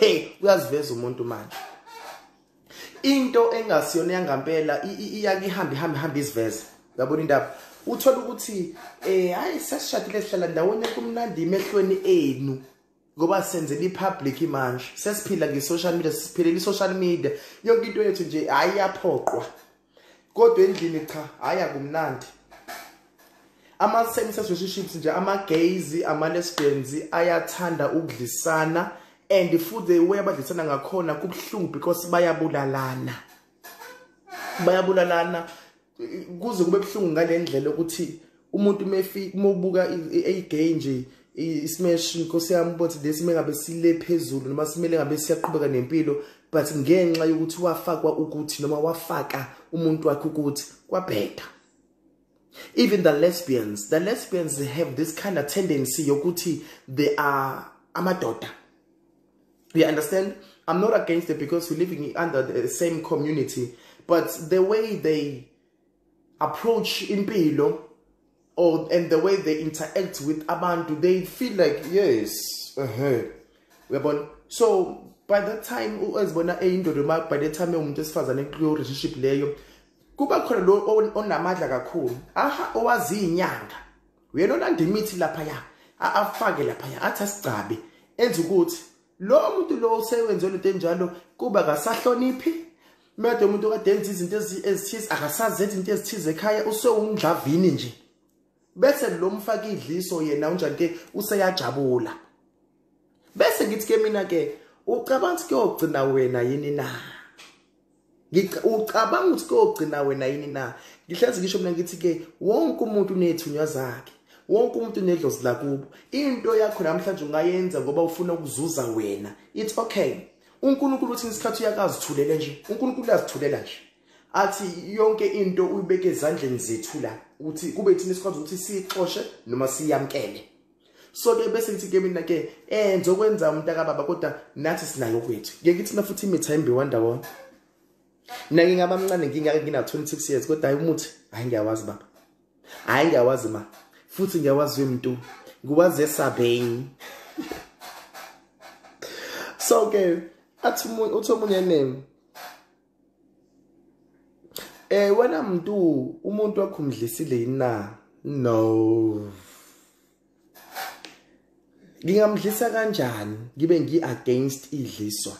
hey uyaziveza umuntu manje into engasiyona yangampela iyake ihambe ihambe ihambe iziveze uyabona indaba uthola ukuthi eh hayi sesishadile sihlala ndawonye kumnandi emehlweni enu ngoba senzela ipublic manje sesiphila nge-social media siphilela i-social media yonke into yethu nje hayi yaphoqwa kodwa endlini cha hayi akumnandi ama-same sex relationships nje ama-gays ama-lesbians ayathanda ukudlisana and futhi the way abadlisana ngakhona kubuhlungu because bayabulalana bayabulalana kuze kube buhlungu ngale ndlela ukuthi umuntu mefi mobuka eyigay nje ismash inkosi yami ukuthi lesi mengabe sile phezulu noma simele ngabe siyaqhubeka nempilo but ngenxa yokuthi wafakwa ukuthi noma wafaka umuntu wakhe ukuthi kwabheda even the lesbians the lesbians they have this kind of tendency yokuthi they are amadoda you understand i'm not against it because we're living under the same community but the way they approach impilo or and the way they interact with abantu they feel like yes ehe uyabona so by that time ezibona eyindoda ma by the time umuntu esifazane kuyo relationship leyo kuba khona lo onamadla kakhulu aha owazi inyanga uyena olanda imithi lapha ya afake lapha ya athi asigcabe enza ukuthi lo muntu lo osewenze lento enjalo kuba kasahloniphi Mede umuntu kade enza izinto ezithize akasazi ethi into ezithize ekhaya usewumdlavini nje. Bese lo mfaka idliso yena unjani ke useyajabula. Bese ngithi ke mina ke ucabanga ukuthi kuyogcina wena yini na? Ngicabanga ukuthi kuyogcina wena yini na? Ngihlezi ngisho mina ngithi ke wonke umuntu unethunywa zakhe. wonke umuntu unedlozi lakubo into yakho namhlanje ungayenza ngoba ufuna ukuzuza wena it's okay uNkulunkulu uthi ngesikhathi uyakazithulela nje uNkulunkulu uyazithulela nje athi yonke into uyibeke ezandleni zethu la ukuthi kube thina sikwazi ukuthi siyixoshe noma siyamkele so ke bese ngithi ke mina ke eh ngizokwenza umntakababa kodwa nathi sinayo kwethu ngeke kuthi nafuthi imitha imbi wandawona mina ngingaba mncane ngingake ngina 26 years kodwa hayi umuthi hayi ngiyawazi baba hayi ngiyawazi ma futhi ngiyawazi umuntu ngiwazi esabheni so ke athi uthi omunye name eh wena mntu umuntu wakhumdlisile yina no ngingamdlisa kanjani ngibe ngi against idliswa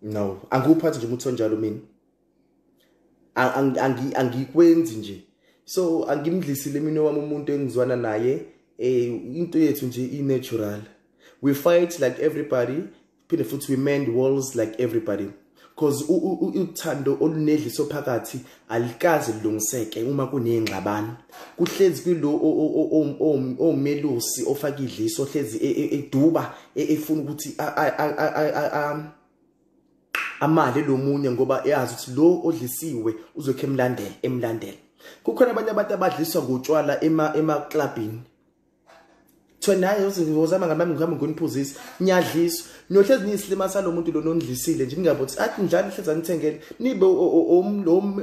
no angikuphathi nje umuntu onjalo mina angikwenzi nje so angimdlisile mina wami umuntu engizwana naye eh into yethu nje i-natural we fight like everybody phinde futhi we mend walls like everybody because uthando olunedliso phakathi alikaze lilungiseke uma kuneyingxabano kuhlezi kulo omelusi ofaka idliso ohlezi e, e, eduba e, efuna ukuthi amale lomunye ngoba eyazi ukuthi lo odlisiwe uzokhe emlandela emlandela kukhona abanye abantu abadliswa ngotshwala ema ema clubini thina hayi uzama ngamami ngihamba ngoniphuzisa niyadliswa niyohlezi niyisilima salo muntu lona ondlisile nje ningabo ukuthi athi njalo hlezi anithengele nibe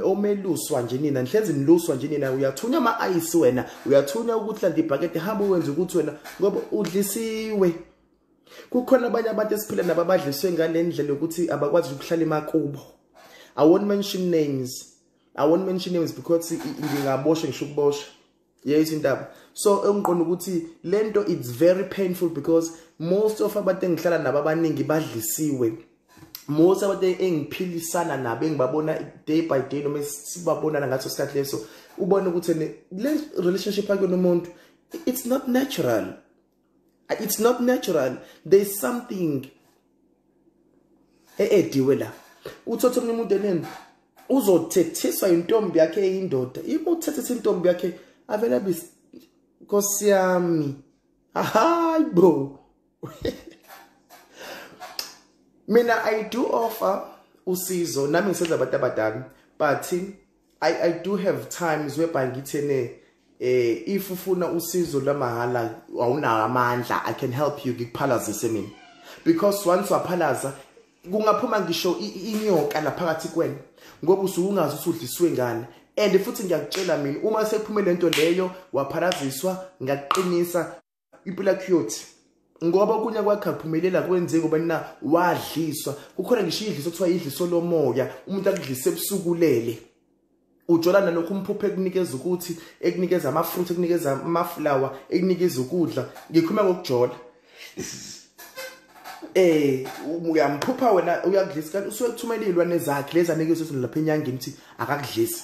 omeluswa nje nina nihlezi niluswa nje nina uyathunywa ama-ayisi wena uyathunywa ukuthi landa ibhakede hamba uwenze ukuthi wena ngoba udlisiwe kukhona abanye abantu esiphila nabo abadliswe ngale ndlela yokuthi abakwazi ukuhlala emakubo i won't mention names i won't mention names because ngingaboshwa ngisho ukubosha yeyisa intaba so engiqonda ukuthi lento it's very painful because most of abantu engihlala nabo abaningi badlisiwe most abantu engiphilisana nabo engibabona day by day noma sibabonana ngaso sikhathi leso ubona ukuthi le relationship akuyona umuntu it's not natural it's not natural there's something eediwe la uthothe omunye umuntu eneni uzothethiswa intombi yakhe eyindoda yimi uthethisa intombi yakhe avela bis nkosi yami hayi bo mina i do offer usizo nami ngisenza abantu abadala but I, I do have times whereby ngithene eh if ufuna usizo lwamahhala awunawo amandla i can help you ngikuphalazise mina because once waphalaza kungaphuma ngisho inyoka laphakathi kwena ngoba usukungazi usudliswe ngane and futhi ngiyakutshela mina uma sephumele lento leyo wapharaziswa ngaqinisa impilo yakho iyothi ngoba okunye kwakhe akuphumelela kwenzeki ngoba nina wadliswa kukhona ngisho idliso kuthiwa idliso lomoya umuntu akudlise ebusukulele ujola nalokho umphuphe ekunikeza ukuthi ekunikeza amafruit ekunikeza amaflower ekunikeza ukudla ngikhuluma ngokujola eh uyamphupha wena uyakudlisa kanti usuke kuthumelilwa nezakhe lezi anikeza ukuthi lapha enyangeni ukuthi akakudlisa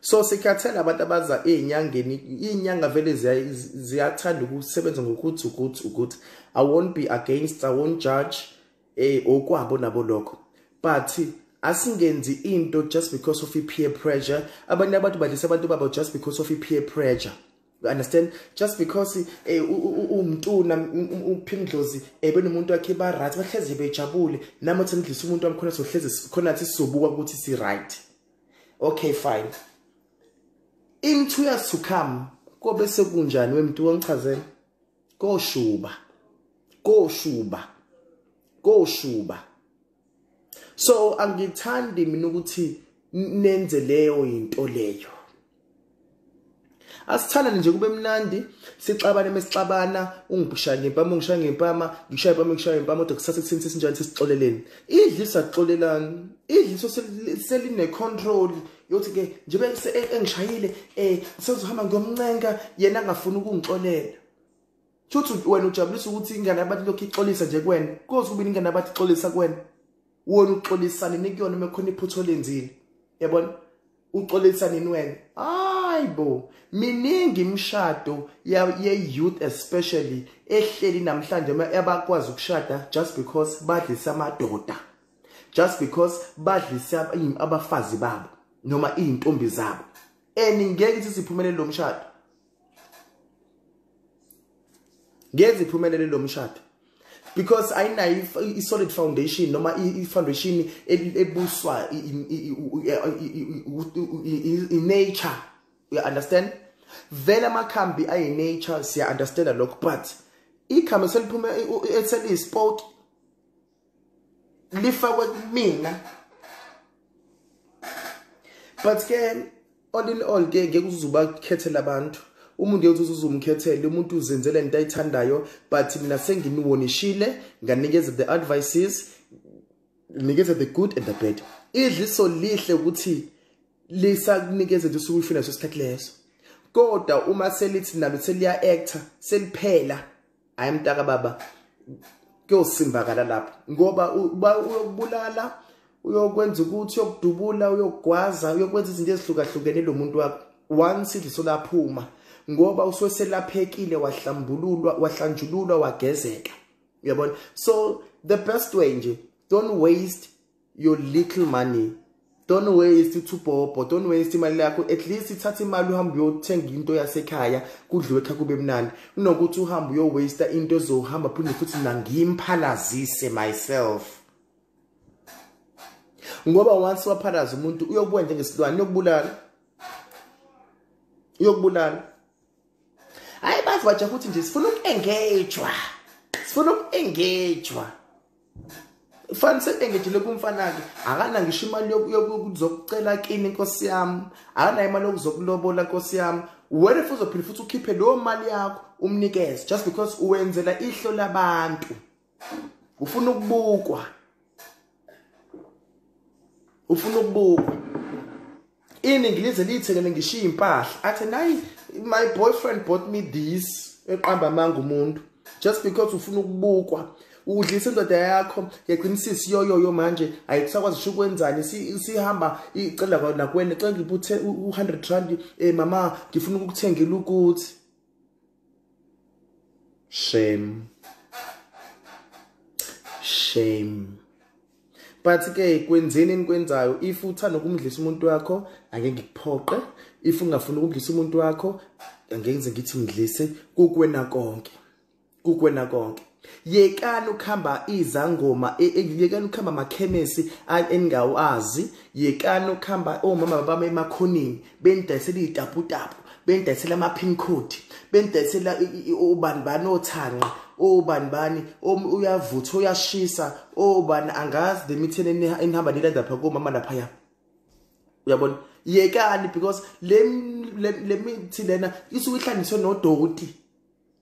so sikhathele abantu abaza ezinyangeni izinyanga vele ziyathanda ukusebenza ngokuthi ukuthi ukuthi i won't be against i won't judge eh okwabo nabo lokho but asingenzi into just because of peer pressure abanye abantu badlisa abantu babo just because of peer pressure you understand just because eh umntuna uphindlozi ebe nomuntu wakhe ba right bahlezi bejabule nami uthi ngidlisa umuntu wamkhona sohlezi khona sizobuka ukuthi si right okay fine in two years to come kobe sekunjani wemntu wongichazela koshuba koshuba koshuba so angithandi mina ukuthi nenze leyo into leyo asithandane nje kube mnandi sixabane mesixabana ungibhishaya ngempama ungishaya ngempama ngishaya impama ngishaya ngempama kodwa kusase kusini sesinjani sesixoleleni idlisa xolelani idliso seline control yothi ke njengoba e-, engishayile eh sezohamba ngiyomncenga yena angafuni ukungixolela Shuthi wena ujabulisa ukuthi ingane yabantu lokhu ixolisa nje kuwena. Koze kube ingane yabantu ixolisa kuwena. wona uxolisa nini kuyona uma khona iphutho lenzile yabona uxolisa nini wena hayibo miningi imishado ye-youth especially ehleli namhlanje abakwazi ukushada just because badlisa amadoda just because badlisa abafazi babo noma iy'ntombi zabo and ngeke ukuthi siphumelele lo mshado ngeze iphumelele lo mshado because ayinayo i-solid foundation noma i-foundation ebuswa i-nature you understand vele amakhambi ayi-nature siya-understanda lokho but ikhambi seliphume eseliyi-sport lifakwe kumina but ke all in all ke ngeke uzuba khethela abantu umuntu yethu uzuzumkhethele umuntu uzenzele into ayithandayo but mina senginiwonishile nganikeza the advices nikeza the good and the bad idliso lihle ukuthi lisakunikeza nje usuku ufina leso sikhathi leso kodwa uma selithi nalo seliya actor seliphela hayi mntaka baba kuyosimbakala lapho ngoba uyokubulala uyokwenza ukuthi uyokudubula uyogwaza uyokwenza izinto ezihlukahlukene lo muntu wakho once idliso laphuma ngoba usuke selaphekile wahlambululwa wahlanjululwa wagezeka uyabona so the best way nje don't waste your little money don't waste uthubhobho don't waste imali yakho at least ithatha imali uhambe uyothenga into yasekhaya kudliwe kha kube mnandi kunokuthi uhambe uyowaste into ezohamba phinde futhi mina ngimphalazise myself ngoba once waphalaza umuntu uyokubuka njengesilwane uyokubulala uyokubulala hayi bazi bajaha ukuthi nje sifuna uku-engagwa sifuna uku-engagwa fani sekengejele kumfanake akanayo ngisho imali yokuzokucela kini nkosi yami akanayo imali yokuzokulobola nkosi yami wena futhi uzophinde futhi ukhiphe leyo mali yakho umnikeze just because uwenzela ihlo labantu ufuna ukubukwa ufuna ukubukwa iningi lize liyithengele ngishiye impahla athe nayi my boyfriend bought me this eqamba amanga umuntu just because ufuna ukubukwa udlisa indoda yakho yagcina isisi yoyoyo manje ayisakwazi usho ukwenzani sihamba icela kwona kwena cela ngibuthe u100 rand eh mama ngifuna ukukuthengela ukuthi shame shame but ke kwenzeni enikwenzayo if uthanda ukumdlisa umuntu wakho ake ngikuphoqe if ungafuna ukumdlisa umuntu wakho angeke ngithi mdlise kukwena konke kukwena konke yekani ukuhamba izangoma e, e, yekani ukuhamba amakhemesi eningawazi yekani ukuhamba omama bami emakhoneni benidayisela iy'taputapu benidayisela ama-pin code benidayisela ubani bani othanqa obani bani uyavutha uyashisa obani angazi le mitheni enihamba nilanda pha komama laphaya uyabona yekani because le mithi lena isuke ihlanganiswe nodoti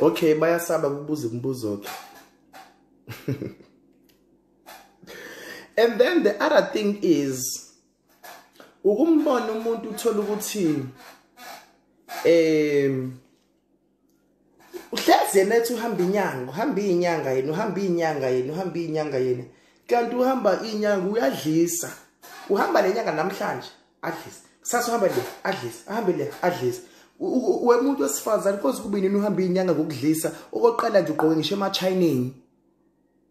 okay bayasaba kubuza imibuzo ke and then the other thing is ukumbona umuntu uthola ukuthi um uhlezi yena ethi uhamba inyanga uhamba iyinyanga yena uhamba iyinyanga yena uhamba iyinyanga yena kanti uhamba iyinyanga uyadlisa uhamba le nyanga namhlanje adlise kusasa uhamba le adlise ahambe le adlise wemuntu wesifazane koze kube nini uhamba iyinyanga ngokudlisa okokuqala nje ugqoke ngisho emachineni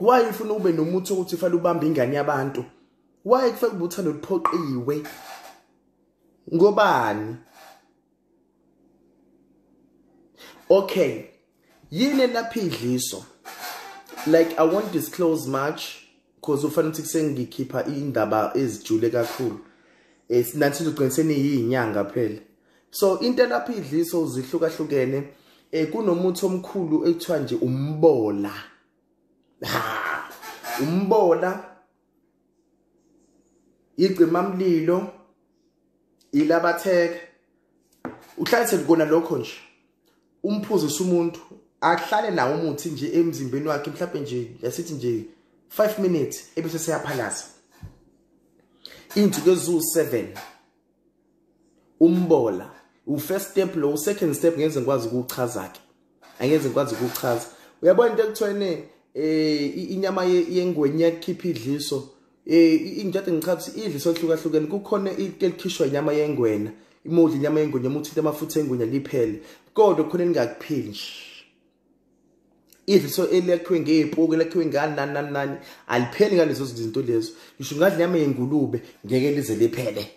why ufuna ube nomuthi ukuthi ufale ubambe ingane yabantu why kufanele ube uthando luphoqiwe ngobani okay yini elapha idliso like i won't disclose much because ufanele ukuthi kusengikhipha indaba ezijule kakhulu eh, nathi sizogcina seniyinyanga phela so into elapha idliso zihlukahlukene eh kunomuthi omkhulu ekuthiwa nje umbola ha umbola igcima mlilo ilabatheke uhlalise kona lokho nje umphuzisa umuntu ahlale nawo umuthi nje emzimbeni wakhe mhlawumbe nje yasithi nje 5 minutes ebese seyaphalaza insuku ezu 7 umbola u-first step lo u-second step ngenze ngikwazi ukuwuchaza-ke angenze ngikwazi ukuwuchaza uyabona into ekuthiwene um inyama yengweni iyakhipha idliso um into ade ngichaza ukuthi idliso elihlukahlukene kukhona into elikhishwa inyama yengwena imodla inyama yengwenya uma uthinta amafutha engwenya liphele kodwa khona elingakuphili nje if so elekhiwe ngeepuku elekhiwe ngani nani nani nani alipheli ngalezo zinto lezo ngisho ngadla inyama yengulube ngeke lize liphele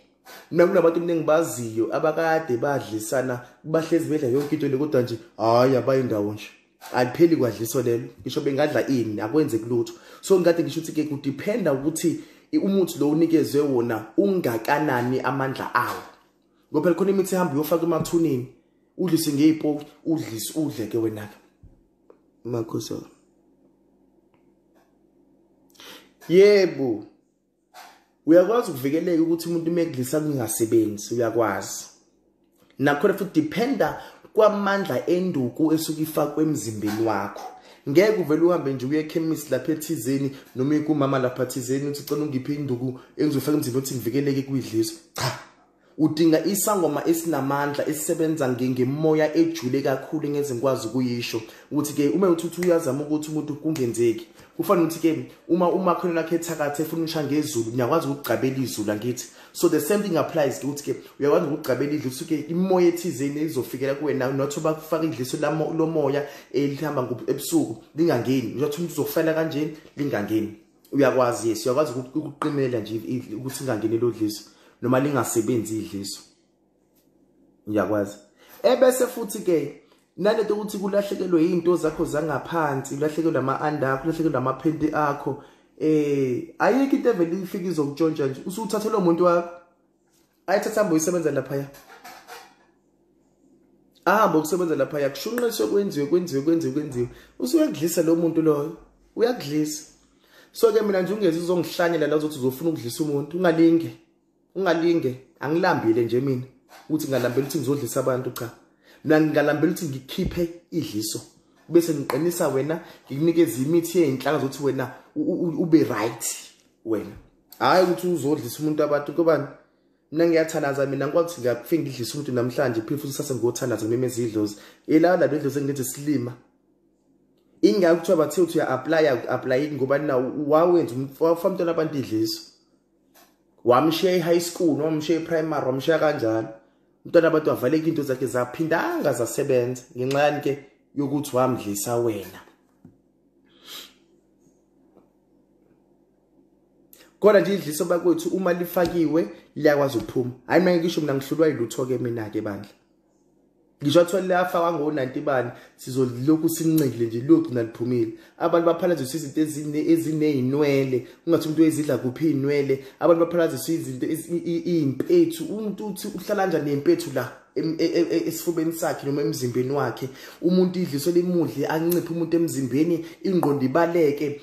mina kunabantu mningi baziyo abakade badlisana bahlezi bedla yonke into le kodwa nje hhayi abayindawo nje alipheli kwadliso lelo ngisho bengadla ini akwenzeki lutho so ngikade ngisho ukuthi-ke kudiphenda ukuthi umuthi lo unikezwe wona ungakanani amandla awo ngoba phela khona imithi ehamba uyofaka emathuneni udlise ngey'poki udlise udleke wena-ke makhosi wami yebo uyakwazi ukuvikeleka ukuthi umuntu uma ekudlisa kungasebenzi uyakwazi nakhona futhi dependa kwamandla enduku esuke ifakwe emzimbeni wakho ngeke uvele uhambe nje uye ekhemisi lapha ethizeni noma kumama lapha thizeni uthi cela ungiphe induku engizofaka emzimbeni othi ngivikeleke kuyidliso cha Udinga isangoma esinamandla esisebenza ngemoya ejule kakhulu ngezingikwazi ukuyisho ukuthi ke uma uthuthu uyazama ukuthi umuntu kungenzeki kufanele ukuthi ke uma umakhelwane wakhe ethakathe efuna usha ngezulu niyakwazi ukugcabela izulu angithi so the same thing applies ukuthi ke uyakwazi ukugcabela idlu suke imoya ethizeni izofikela kuwena not bakufaka idliso lomoya elihamba ebusuku lingangeni uyathi umuntu uzofela kanjeni lingangeni uyakwazi yes uyakwazi ukuqinela nje ukuthi ingangeni lodliso noma lingasebenzi idliso uyakwazi ebese futhi ke nalento ukuthi kulahlekelwe izinto zakho zangaphansi ulahlekelwe ama under akho ulahlekelwe ama phenti akho eh ayikho into evele ifika izokutshontsha nje usuthathelwa umuntu wakho ayi thatha hambe uyisebenza laphaya ahambe ukusebenza laphaya kushunqiswe kwenziwe kwenziwe kwenziwe kwenziwe usuyakudlisa lo muntu loyo uyakudlisa so-ke mina nje ungezi uzongihlanyela la uzothi uzofuna ukudlisa umuntu ungalinge ungalinge angilambile nje mina ukuthi ngingalambela ukuthi ngizodlisa abantu cha mina ngingalambela ukuthi ngikhiphe idliso bese ngiqinisa wena ngikunikeza imithi yey'nhlanga zokuthi wena ube right wena hhayi ukuthi uzodlisa umuntu abantu kobani mina ngiyathanaza mina ngikwakuthi ngiyakufike ngidlise umuntu namhlanje phile futhi sase ngiyothanaza ngimemeza idlozi ilala lento idlozi engilenze silima ingake kuthiwa bathe uthi uya-aplaya uku-aplayeki ngoba na wawenza wafamntwana abantu idliso wamshiya e-high school noma wamshiya e-primary wamshiya kanjalo umntwana abantu wavaleka into zakhe zaphindanga zasebenza ngenxa yani ke yokuthi wamdlisa wena kodwa nje idliso bakwethu uma lifakiwe liyakwazi ukuphuma hayi mina ngisho mina ngihlulwa yilutho ke mina ke bandla ngisho athiwa liyafakwa ngo-90 bani sizolokhu sincikile nje liyogcina liphumile abantu baphalaziswa izinto eziney'nwele ungathi umuntu ezidla kuphi iy'nwele abantu baphalaziswa izinto iy'mpethu umuntu uthi uhlala njani ney'mpethu la e, e, e, esifubeni sakhe noma emzimbeni wakhe umuntu idliso limudle anciphe umuntu emzimbeni ingqondo ibaleke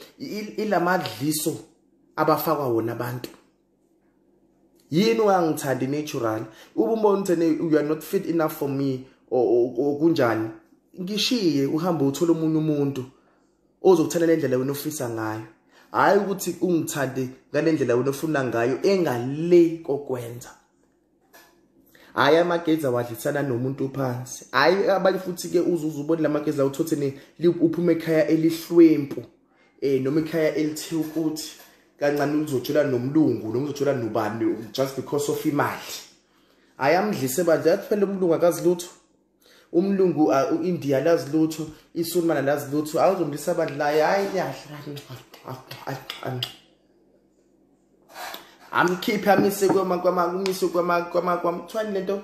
ilamadliso abafakwa wona abantu yini ungangithandi natural uba umbona uthene you are not fit enough for me kunjani ngishiye uhambe uthole omunye umuntu ozokuthanda le ndlela wena ofisa ngayo hhayi ukuthi ungithande ngale ndlela wena ofuna ngayo engale kokwenza hayi amageza wadlisana nomuntu phansi hayi abanye futhi-ke uzuze ubone la mageza lawo uthothe uphume ekhaya elihlwempu um eh, noma ikhaya elithe ukuthi kancane uzojola nomlungu noma uzojola nobani just because of imali hayi amdlise bandla yakuphela umlungu akazi lutho umlungu uh, uIndia lazi lutho isulmana lazi lutho awuzomlisa abantu la hayi amkhiphe amise kwama kwama kumise kwama kwama kwamthwani lento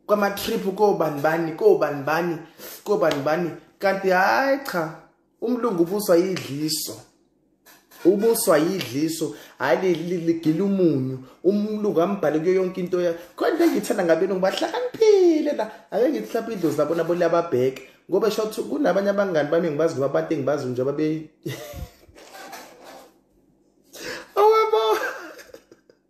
kwama trip kobani bani kobani bani kobani bani kanti hayi cha umlungu ubuswa yidliso ubuswa yidliso hayi ligila umunyu umluku ambhale kuyo yonke into ya khona ngithanda ngabenu ngibahlakaniphile la ake ngithi hlapha idlozi labo nabo liyababheka ngoba sho ukuthi kunabanye abangani bami ngibazi ngoba abantu engibazi nje babe awebo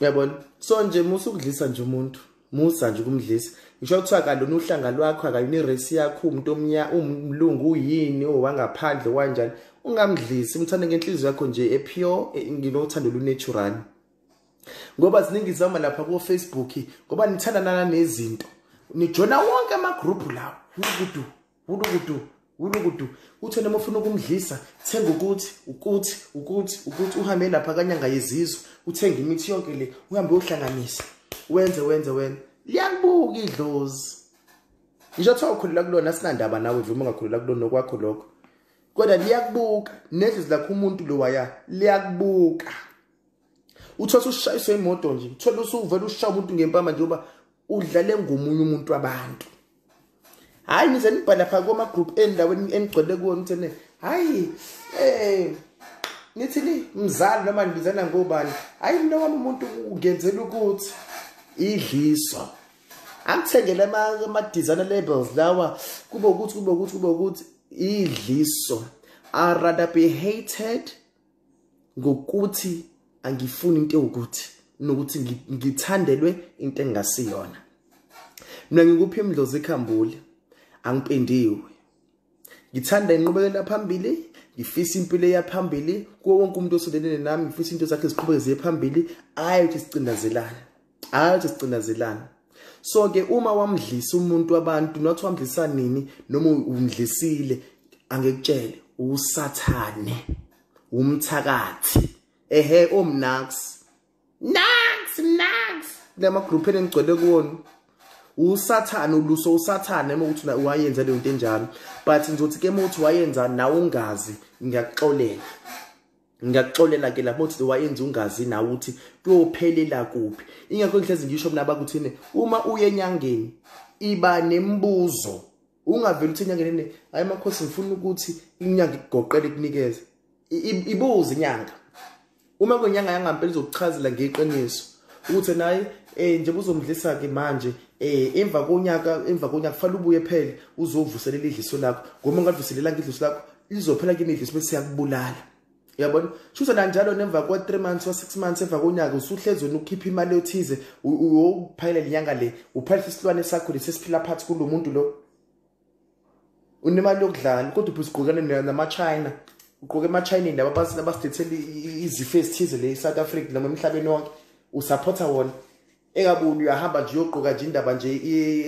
uyabona so nje musa ukudlisa nje umuntu musa nje ukumdlisa ngisho kuthiwa kalona uhlanga lwakho akayona irace yakho umuntu omnya umlungu uyini owangaphandle wanjani ungamdlisi umthande ngenhliziyo yakho nje epure e, nginothando lunatural ngoba ziningi zama lapha ku Facebook ngoba nithandanana nezinto nijona wonke ama group lawo ubudu wulukudu wulukudu uthe noma ufuna ukumdlisa thenga ukuthi ukuthi ukuthi ukuthi uhambe lapha kanyanga yezizwe uthenge imithi yonke le uhambe uhlanganisa wenze wenze wena liyakubuka idlozi ngisho kuthiwa ukhulela kulona sinandaba nawe vuma ungakhulela kulona nokwakho lokho kodwa liyakubuka nedlozi lakho umuntu lo waya liyakubuka uthole usushayiswe imoto nje uthole usuvela ushaya umuntu ngempama njengoba udlale ngomunye umuntu wabantu hayi nize nibhala pha koma group endaweni enigcwele kuwo ngithene hayi eh nithi ni mzali noma nibizana ngobani hayi mina wami umuntu ungenzela ukuthi idliso angithengele ama designer labels lawa kube ukuthi kube ukuthi kube ukuthi idliso are rather be hated ngokuthi angifuni into ewukuthi nokuthi ngithandelwe into engasiyona mina ngikuphi imdlozi ikhambule angipendiwe ngithanda inqubekela phambili ngifisa impilo eyaphambili kuwo wonke umuntu osolelene nami ngifisa into zakhe ziqhubeke ziye phambili ayi ukuthi sicindazelane hayi uthi sicinazelana so ke uma wamdlisa umuntu wabantu not wamdlisa nini noma umdlisile angekutshele usathane umthakathi ehe omnax nax nax lama group enigcwele kuwona usathane uluso usathane uma ukuthi wayenza leyo nto enjalo but ngizothi ke uma uthi wayenza nawe ungazi ngiyakuxolela ngiyakuxolela ke lapho ukuthi wayenza ungazi nawe ukuthi kuyophelela kuphi ingakho ngihlezi ngisho mina abakuthini uma uye enyangeni iba nembuzo ungaveli ukuthi inyanga nene hayi makhosi ngifuna ukuthi inyanga ikugoqele ikunikeze ibuze inyanga uma kwenyanga yangampela izokuchazela ngeqiniso ukuthi naye eh nje buzomdlisa ke manje eh emva konyaka emva konyaka kufanele ubuye phele uzovuselela idliso lakho ngoba ungavuselelanga idliso lakho lizophela kimi idliso bese yakubulala yabona shuza kanjalo nemva kwa 3 months wa 6 months emva konyaka usuhlezi wena ukhipha imali yothize uyophayela lenyanga le uphayela isilwane sakho lesesiphila phansi kulomuntu lo unemali yokudlala kodwa ubhizi gqokane nama China ugqoke ama China laba basina basidethela izifo ezithize le South Africa noma emhlabeni wonke usupporta wona engabuni uyahamba nje uyogqoka nje indaba nje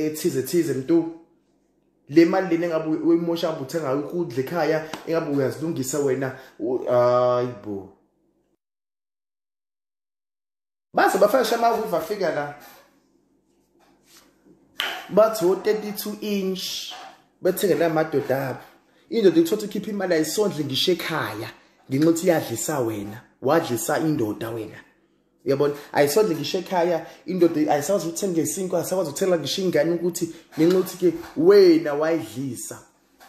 ethize thize mntu le mali lena engabe uyimosha ngabe uthenga ukudla ekhaya engabe uyazilungisa wena hayi bo baze bafashe amawivu afika la bathi o-32 inch bethengela amadoda abo indoda ikuthothi ukhipha imali ayisondle ngisho ekhaya ngenxa ukuthi iyadlisa wena wadlisa indoda wena uyabona ayisondle ngisho ekhaya indoda ayisakwazi ukuthenga isinkwa ayisakwazi ukuthengela ngisho ingane ukuthi ngenxa ukuthi ke wena wayidlisa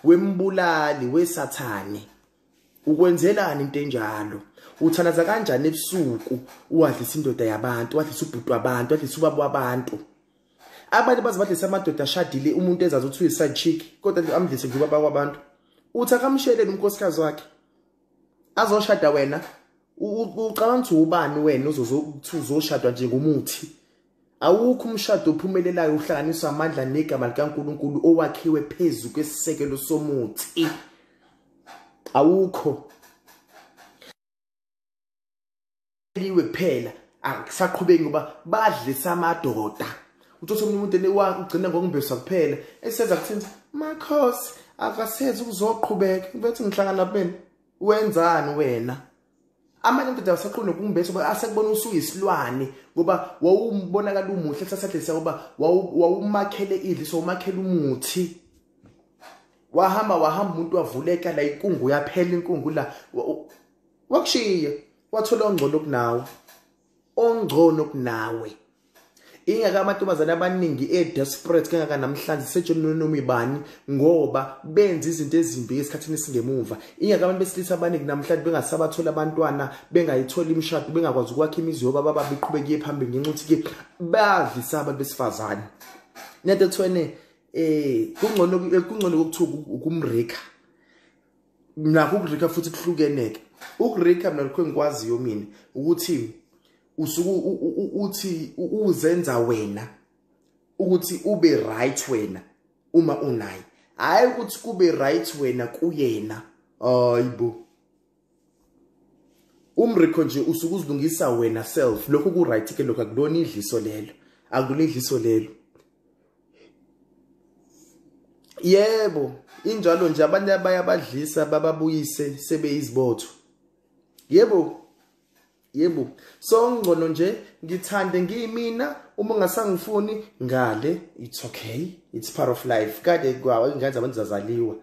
wembulali wesathane ukwenzelani into enjalo uthalaza kanjani ebusuku uwadlisa indoda yabantu wadlisa ubhuti wabantu wadlisa ubaba wabantu abantu baze badlisa amadoda ashadile umuntu ezazi ukuthi uyiside chick kodwa amdlise nje ubaba kwabantu uthi akamshelele umkhosikazi wakhe azoshada wena ucabanga ukuthi ubani wena uzoshadwa nje ngomuthi awukho umshado ophumelelayo uhlanganiswa amandla negama likaNkuluNkulu owakhiwe phezu kwesisekelo somuthi awukho liwe kuphela akusaqhubeki ngoba badlisa amadoda uthothe omunye umuntu enewakhe ugcina ngokumbesa kuphela esenza kuthini makhosi akasenzi ukuzoqhubeka bethi ngihlangana bena wenzani wena amanye amadoda awusaqondi nokumbetha uba asekubona usuyisilwane ngoba wawumbonakala umuhle kusasadlisa uba wawumakhele idli so umakhele umuthi wahamba wahamba umuntu wavuleka la inkungu yaphela inkungu la wakushiya wathola ongcono kunawe ongcono kunawe ingaka amantombazane abaningi e-desperate kangaka namhlanje sejoni nonoma ibani ngoba benza izinto ezimbi esikhathini esingemuva ingaka abantu besilisa abaningi namhlanje bengasabatholi abantwana bengayitholi imishado bengakwazi ukwakha imizi yoba baba biqhubeke iye phambili ngenxa ukuthi-ke badlisa abantu besifazane nento ekuthiwene um kungcono kokuthiwa ukumrika nakho ukurika futhi kuhlukeneke ukurika mina lokho engikwaziyo mina ukuthi usuku uthi uzenza wena ukuthi ube right wena uma unaye hayi ukuthi kube right wena kuyena hayibo umrikho nje usuke uzilungisa wena self lokho ku right ke lokho akulona idliso lelo akulona idliso lelo yebo injalo nje abantu abayabadlisa bababuyise sebeyizibotho yebo yebo so ngcono nje ngithande ngiyimina uma ungasangifuni ngale it's okay it's part of life kade kwawo ingane zabantu zazaliwa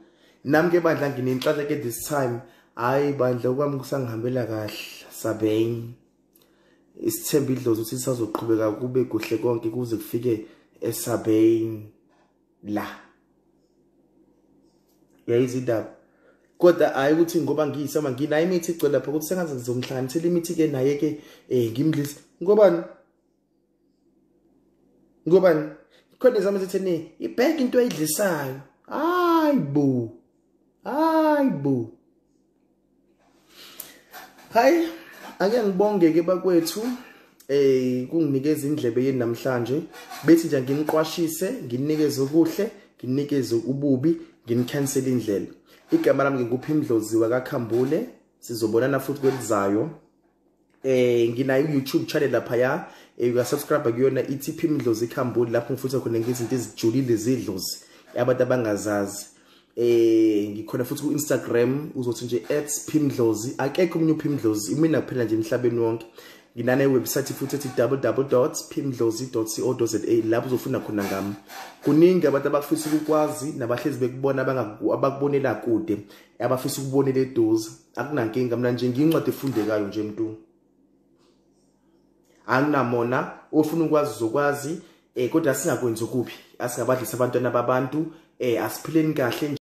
nami ke bandla nginenhlanhla ke this time hayi bandla okwami kusangihambela kahle sabeng isithemba idlozi ukuthi sisazoqhubeka kube kuhle konke kuze kufike esabeyini la yayizindaba kodwa hayi ukuthi ngoba ngiyisama nginayo imithi igcwele lapha ukuthi sengaze ngizomhlanganisela imithi-ke naye-ke um eh, ngimdlise ngobani ngobani khona izama zitheni ibheke into ayidlisayo hayi bo hayi bo Hayi ake ngibonge ke bakwethu eh kunginikeza indlebe yeni namhlanje bethi nje nginiqwashise nginikeze okuhle nginikeze ububi nginicancel indlela igama lami ngikuphi imdlozi wakakhambule sizobonana futhi kwelizayo eh nginayo YouTube channel lapha ya eh, uya subscribe kuyona ithi phi imidlozi ikhambuli lapho ngifutha khona ngezinto ezijulile zidlozi abantu abangazazi eh ngikhona futhi ku Instagram uzothi nje @phimdlozi akekho umunye uphimdlozi imina kuphela nje emhlabeni wonke nginane website futhi ethi www.phimdlozi.co.za lapho uzofuna khona ngami kuningi abantu abafisa ukukwazi nabahlezi bekubona abangakubonela kude abafisa ukubonela eduze akunankinga mina nje ngiyincwadi efundekayo nje mntu anginamona ofuna ukwazi uzokwazi um eh, kodwa singakwenzi okubi asingabadlisa abantwana babantu um eh, asiphileni kahle